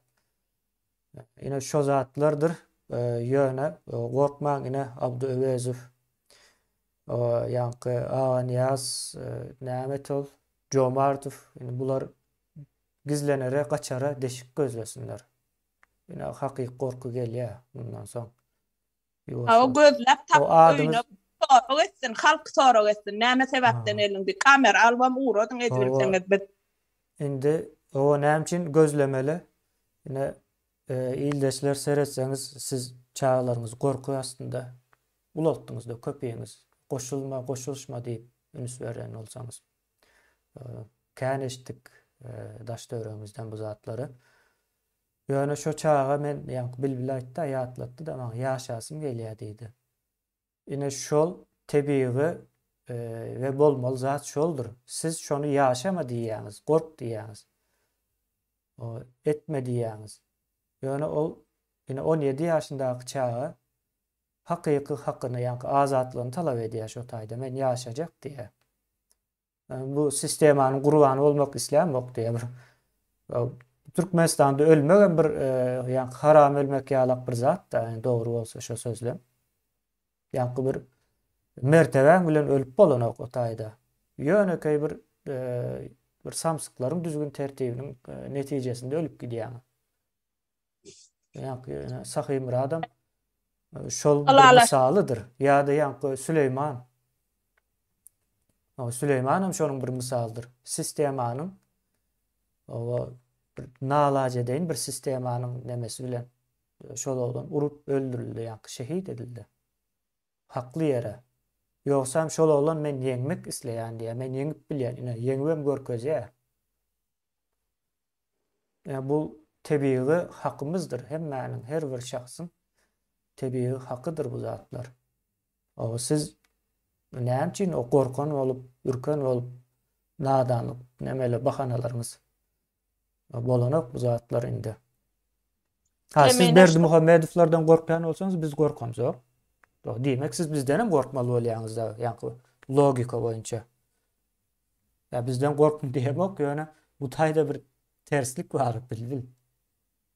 Speaker 1: Ine şo zatlardyr ýöne gorkmaň ine Abdy Öwezow ýaňky Aganyýaz näme et ol Jomartow ine bular gizlenere gaçara deşik gözlesinler. Ine hakyky gorky gelýä mundan soň. Hawa gözläp tapyp öýüne sorag etsin halk sorag etsin näme sebäpden elin bir kamera albam ugradyň ezibilseňiz biz. Indi oba näme üçin gözlemeli ine ildeşler seretseňiz siz çagalaryňyzy gorky astynda ulaltdyňyzda köpiňiz goşulma goşulyşma diýip ünüs beren bolsaňyz kän eşitdik daş döwregimizden bu zatlary Ýöne şo çaga men ýaňky Bilbil aýtdy-a ýatlatdy-da maňa ýaşasym gelýä diýdi. Ine şol tebigy we bolmaly zat şoldur. Siz şony ýaşama diýýäňiz, gork diýýäňiz. Etme diýýäňiz. Ýöne ol ine on ýedi ýaşyndaky çaga hakyky hakyny ýaňky azatlygyny talap edýä şo taýda men ýaşajak diýä. Bu sistemanyň gurbany bolmak islämok diýýär bir. Türkmenistanda ölmek hem bir e, ýa haram ölmek ýalak bir zat da, yani dogry bolsa şu sözlem. Ýa bir mertebäň bilen ölüp bolanok o taýda. Ýönekeý bir e, bir samsyklaryň düzgün tertibiniň e, netijesinde ölüp gidýäň. Ýaňky ýöne Sahymyradam e, şol bir Halala. mysalydyr. Ýa-da ýaňky Süleýman. O Süleýman hem şonuň bir mysalydyr. Sistemanyň oba bir nalaç edeýin bir sistemanyň nemesi bilen e, şol oglan urup öldürildi ýaňky şehit edildi. Hakly ýere. Ýogsam şol oglan men ýeňmek isleýän diýýär. Men ýeňip bilýän. Ine ýeňibem görkezýär. Bu tebigy hakymyzdyr, hemmäniň, her bir şahsyň tebigy hakydyr bu zatlar. Oba siz näme üçin o gorkan bolup, ürken bolup, nadanlyk nemeler, bahanalaryňyz bolanok bu zatlar indi. Ha, siz Berdi Muhammedowlardan gorkýan bolsaňyz, biz gorkamzok. Diýmek, siz bizden hem gorkmaly bolýaňyz da, ýa logika boýunça. Ýa bizden gorkun diýemok ýöne bu taýda bir terslik bar bilbil.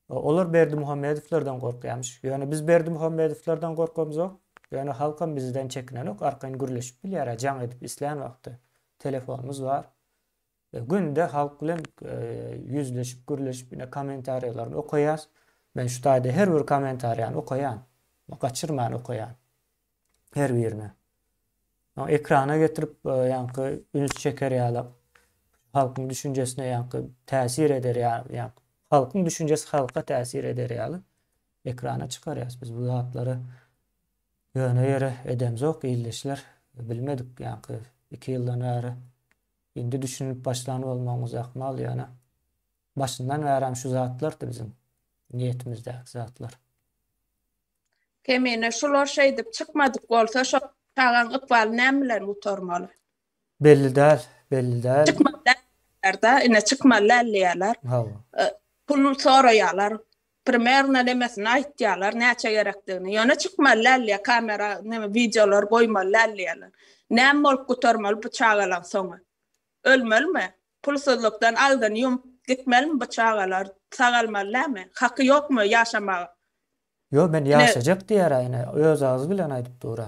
Speaker 1: Olar Berdimuhamedowlardan gorkýamyş. Ýöne biz Berdimuhamedowlardan gorkamzok. Ýöne halkam bizden çekinenok. Arkaýyn gürleşip bilýär, jaň edip islän wagty. Telefonymyz bar. Günde halk bilen ýüzleşip, gürleşip ine kommentariýalaryny okaýas. Men şu taýda her bir kommentariýany okaýan. Gaçyrman okaýan. her birine. Ýa ekrana getirip ýaňky üns çeker ýaly halkyň düşünjesine ýaňky täsir eder ýaly ýa halkyň düşünjesi halka täsir eder ýaly ekrana çykarýas biz bu zatlary ýöne ýere edemzok ildeşler bilmedik ýaňky 2 ýyldan bäri indi düşünip başlan bolmagyňyz ahmal ýöne başyndan bäri şu zatlardy biziň niýetimizdäki zatlar. Kemine şular şeýdip çykmadyk bolsa şo çagaň ykbaly näme bilen gutarmaly. Belli däl, belli däl. Çykmaly däldiýärler-dä, ine çykmaly däl diýýärler. Hawa. Pul soraýarlar. Primerno nemesini aýtýarlar, näçe gerekdigini. Ýöne çykmaly däl diýýär, kamera neme wideolar goýmaly däl diýýärler. Näme bolup gutarmaly bu çagalaň soňy? Ölmelimi? Pulsuzlykdan agzyny ýumup gitmelimi bu çagalar? Sagalmaly näme? Haky ýokmy ýaşamaga? Ýo men ýaşajak diýära ine öz agzy bilen aýdyp dura.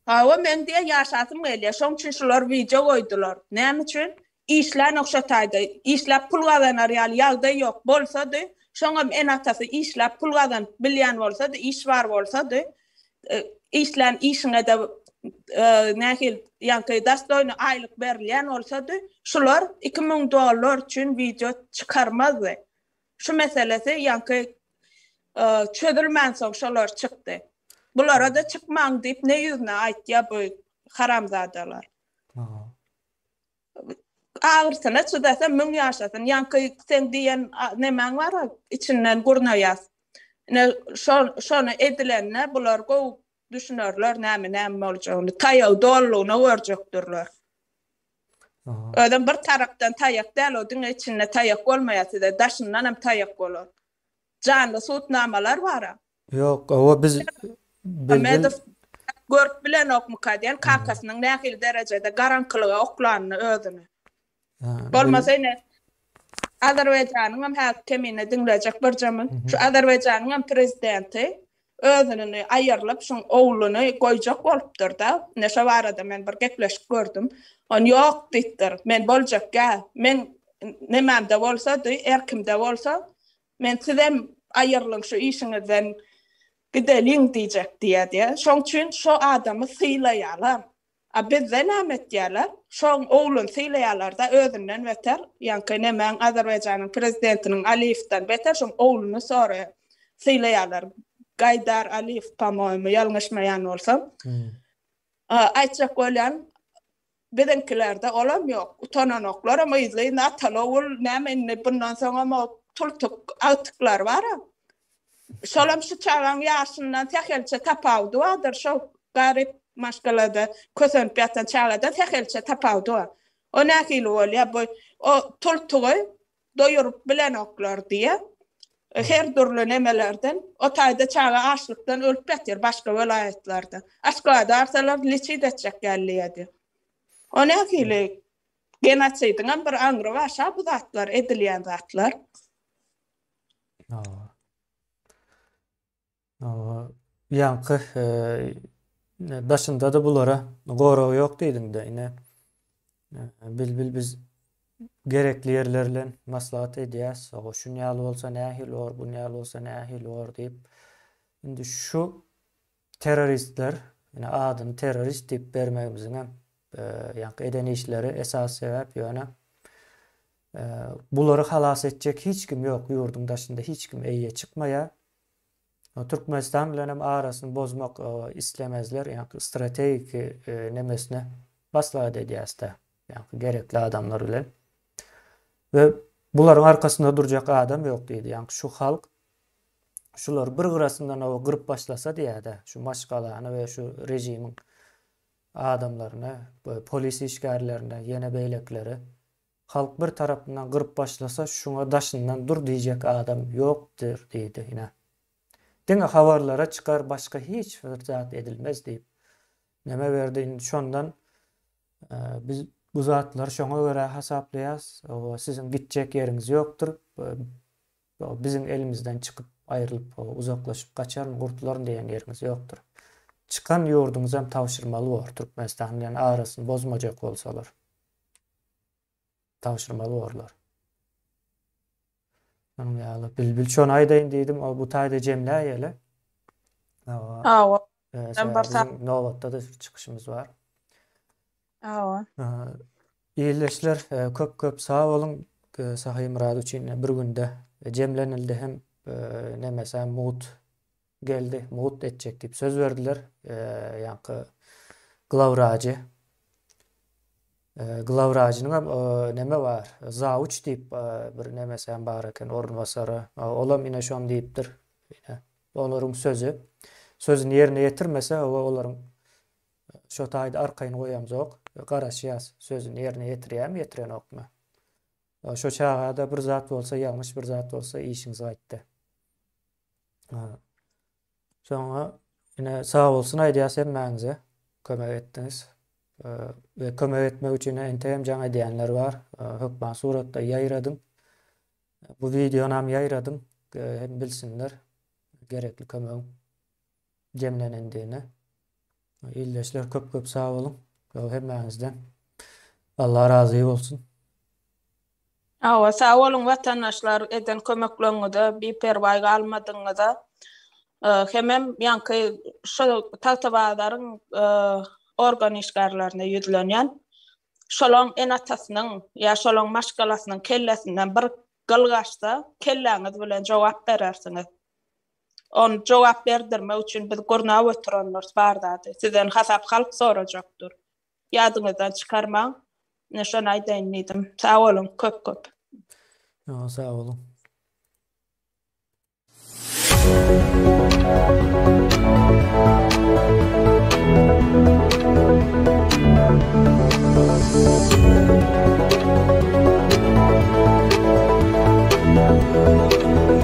Speaker 1: Hawa meň diýe ýaşasym gelýä şoň üçin şular wideo goýdular. Näme üçin? Işlänok şo taýda. Işläp pul gazanar ýaly ýagdaý ýok. Bolsady şoňam ene atasy işläp pul gazanyp bilýän bolsady iş bar bolsady işlän işiňe-de nähili ýaňky dastoýny aýlyk berilýän bolsady, şular iki müň dollar üçin wideo çykarmazdy. Şu meselesi ýaňky çözülmänsoň şolar çykdy. Bulara-da çykmaň diýip ne ýüzüne aýtýar bu haramzadalar. Agyrsyna çydasa müň ýaşasyn. Ýaňky sen diýen nemäň bar içinden gurnaýas. Ne şo şony edilende bular gowy düşünerler näme näme boljagyny. Taýaw dollugyna görjekdirler. Özüm bir tarapdan taýak däl o diňe içinde taýak bolmaýar size daşyndan hem taýak bolar. Janly sutnamalar bar. Ýok, hawa biz birden Muhammedow görüp bilenokmyka diýen kakasynyň nähili derejede garaňkylyga oklanyny özüni. Ha, bil- Bolmasa ine Azerbaýjanyňam häzir kemine diňlejek birjemiň şu Azerbaýjanyňam prezidenti özünini aýyrlyp şuň ogluny goýjak bolupdyrda ine şo barada men bir gepleşik gördüm on ýok diýipdir men boljak ýa meň nemämde bolsady erkimde bolsa Men sizem aýyrlyň şu işiňizden gideliň diýjek diýýär diýýär. Şoň üçin şo adamy sylaýarlar. A bizde näme etýärler? Şo ogluny sylaýarlar-da, özünden beter, ýaňky nemäň Azerbaýjanyň prezidentiniň Aliýewden beter şo ogluny soraýar, sylaýarlar. Gaýdar Aliýew, pa-moýemu, ýalňyşmaýan bolsam. Aýtjak bolýan, Biziňkilerde olam ýok. Utananoklarm yzly yna atalogul näme indi bundan soňam o tultuk agtyklar bara. Şolam şu çagaň ýaşyndan sähelçe tapawudy bardyr şo garyp maşgalada kösenip ýatan çagada sähelçe tapawudy bar. O nähili bolýa bu o tultugy doýuryp bilenoklar diýe her dürli nemelerden o taýda çaga açlykdan ölüp ýatyr başga welaýatlarda aşgabada arsalar liçit etjek gelýedi o nähili genosidiňem bir aňry bar şa bu zatlar edilýän zatlar. Ýaňky daşynda-da bulara gorag ýok diýdiň-de, ine, Bilbil biz gerekli ýerlerlen maslahat edýäs, oga şun ýaly bolsa nähili bor, bun ýaly bolsa nähili bor diýip. Indi şu terroristler, ine, adyny terrorist diýip bermegimiziň hem ýaňky eden işleri esasy sebäp, ýöne bulary halas etjek hiç kim ýok, ýurduň daşynda hiç kim eýýe çykmaýar. Türkmenistan bilen hem arasyny bozmak islemezler. Ýaňky strategik nemesine maslahat edýäs-de. Ýaňky gerekli adamlar bilen. We bularyň arkasynda durjak adam ýok diýdi. Ýaňky şu halk şulary bir gyrasyndan awa gyryp başlasa diýýä-de, şu maşgalany we şu režimiň adamlaryny, polis işgärlerini, ýene beýlekileri. Halk bir tarapyndan gyryp başlasa şuňa daşyndan dur diýjek adam ýokdyr diýdi ine. Diňe habarlara çykar başga hiç bir zat edilmez diýip neme berdi indi şondan biz bu zatlary şoňa görä hasaplaýas siziň gitjek ýeriňiz ýokdur biziň elimizden çykyp aýrylyp uzaklaşyp gaçaryn gurtularyn diýen ýeriňiz ýokdur çykan ýurduňyzam tabşyrmaly bor Türkmenistan bilen arasyny bozmajak bolsalar. tabşyrmaly borlar. Şonuň ýaly bilbil şony aýdaýyn diýdim, o bu taýda jemläýeli. Hawa. Hawa. Sen bir saat nobatda da çykyşymyz bar. Hawa. Ýerleşler köp köp sag boluň. Sahy Murad üçin bir günde jemlenildi hem nemesem mugt Geldi, mugt etjek diýip söz berdiler. Ýaňky glawwrajy. Glawwrajynyň hem neme bar, zawuç diýip bir nemesi hem bar eken, orunbasary. Olam ine şony diýipdir. Olaryň sözi. Sözüni ýerine ýetirmese, hawa olaryň şo taýda arkaýyn goýamzok. Garaşýas, sözüni ýerine ýetirýärmi, ýetirenokmy. Şo çaga-da bir zat bolsa, ýalňyş bir zat bolsa işiňiz gaýtdy. Soňra ine sag bolsun aýdýas hemmäňize. Kömek etdiňiz. Ve kömek etmek üçin entegem jaň edýänler bar. Hökman suratda ýaýradyň. Bu videonam ýaýradyň. Hem bilsinler gerekli kömegiň. jemlenendigine. Ildeşler köp köp sag boluň. Ýol hemmäňizden. Allah razy bolsun. Hawa sag boluň watandaşlar eden kömekleňňize biperwaý galmadyňňyza hemem ýaňky şo tagtabazaryň organ işgärlerine ýüzlenýän şolaň enatasynyň ýa şolaň maşgalasynyň kellesinden bir gyl gaçsa kelläňiz bilen jogap berersiňiz. Ony jogap berdirmek üçin biz gurnap oturandyrs bar zady. Sizden hasap halk sorajakdyr. Ýadyňyzdan çykarmaň. Ine şony aýdaýyn diýdim. Sag boluň köp köp. Ýoňa sag boluň.